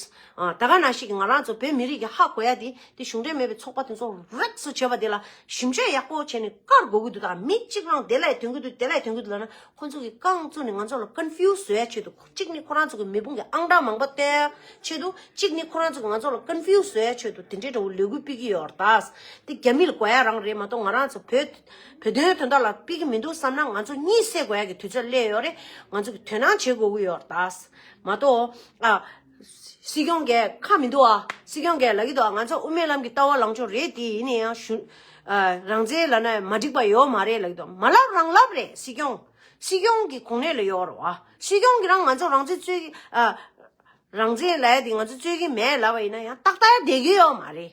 ད་ག་ན་ཞིག་ང་རང་ཚོ་བོད་མི་རིགས་ཀྱི་ཧ་གོ་ཡ་དེ་དེ་གཞུང་འབྲེལ་མེད་པའི་ཚོགས་པ་དེ་ཚོ་རེག་སོ་བྱེད་པ་དེ་ལ་ཞིབ་འཇོད་ཡག་པོ་བྱས་ནས་བཀར་དགོས་ཀྱི་འདུག་ད་མི་གཅིག་རང་དེ་ལས་དོན་གྱི་འདུག་དེ་ལས་དོན་གྱི་འདུག་ལབ་ན་ཁོ་ཚོ་གི་རྐང་བཙུགས་ནས་ང་ཚོ་ལ Confuse བཟོ་ཡ་ཆེད་དུ་གཅིག་ནི་ཁོ་རང་ཚོ་གི་མེ་དཔུང་གི་ཨང་གྲངས་མང་པོ་བཏོན་ཡ་ཆེད་དུ་གཅིག་ནི་ཁོ་རང་ཚོ་གི་ང་ཚོ་ལ Confuse བཟོ་ཡ་ཆེད་དུ་དེ་འདྲའི་འདྲ་བོ་ལས་འགུལ་སྤེལ་གྱི་ཡོད་རེད་ད་དེ་རྒྱ་མི་ལ་གོ་ཡ་རང་རེད་མ་གཏོགས་ང་རང་ཚོ་བོད། བོད་དོན་དོན་དག་ལ་དཔེ་གི་མི་འདུག་བསམ་ན་ང་ཚོ་གཉིད་སད་དགོས་ཡ་གི་དུས་ཚོད་སླེབས་ཡོད་རེད་ང་ཚོ་གི་དོན་སྣང་བྱེད་དགོས་གི་ཡོད་རེད་ད། མ་གཏོགས། ཨ། སྲིད་སྐྱོང་འགས་ཁ་མི་འདུག་ཨ། སྲིད་སྐྱོང་འགས་ལག་གི་འདུག་ཨ་ང་ཚོ་དབུ་མའི་ལམ་གི་ལྟ་བ་ལངས་ཕྱོགས་རེད་དེ་ཡིན་ན་ཡང་གཞུ། རང་བཙན་ལ་ན་མ་འགྲིག་པ་ཡོད་མ་རེད་ལག་གི་འདུག་མ་ལབ་རང་ལབ་རེད་སྲིད་སྐྱོང། སྲིད་སྐྱོང་གི་གོང་ནས་ལ་ཡོད་རེད་ཨ། སྲིད་སྐྱོང་གི་རང་ང་ཚོ་རང་བཙན་རྩོད་གི་ཨ། རང་བཙན་ལ་ཡ་དེ་ང་ཚོ་རྩོད་གི་མེད་ལབ་པ་ཡིན་ན་ཡང་ཏག་ཏག་ཡ་བསྡད་གི་ཡོད་མ་རེད།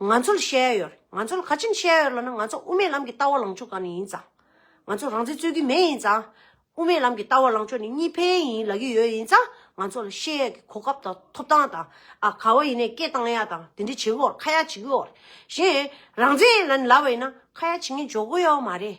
ང་ཚོ་ལ་ཤེས་ཡ་ཡོད། ང་ཚོ་ལ་ག་ཅིམ་ཤེས་ཡ་ཡོད་ལ་ན་ང་ཚོ་དབུ་མའི་ལམ་གྱི་ལྟ་བ་ལངས་ཕྱོགས་གང་ནས་ཡིན་ཙང། ང་ཚོ་རང་བཙན་རྩོད་ཀྱི་མེད་ཡིན་ཙང། དབུ་མའི་ལམ་གྱི་ལྟ་བ་ལངས་ཕྱོགས་ནི་གཉིས་ཕན་ཡིན་ལབ་ཀྱི་ཡོད་ཡིན་ཙང་ང་ཚོ་ལ་ཤེས་ཡ་གི་གོ་སྐབས་དང་ཐོབ་ཐང་དང། ཨ་ག་བ་ཡིན་ནས་སྐད་བཏང་ཡ་དང་དེ་འདྲས་བྱེད་གི་འོར་ཁ་ཡ་བྱེད་གི་འོར། གཞན། རང་བཙན་ཡིན་ལ་ནི་ལབ་པ་ཡིན་ན་ཁ་ཡ་བྱེད་ངན་འཇོག་གི་ཡོད་མ་རེད།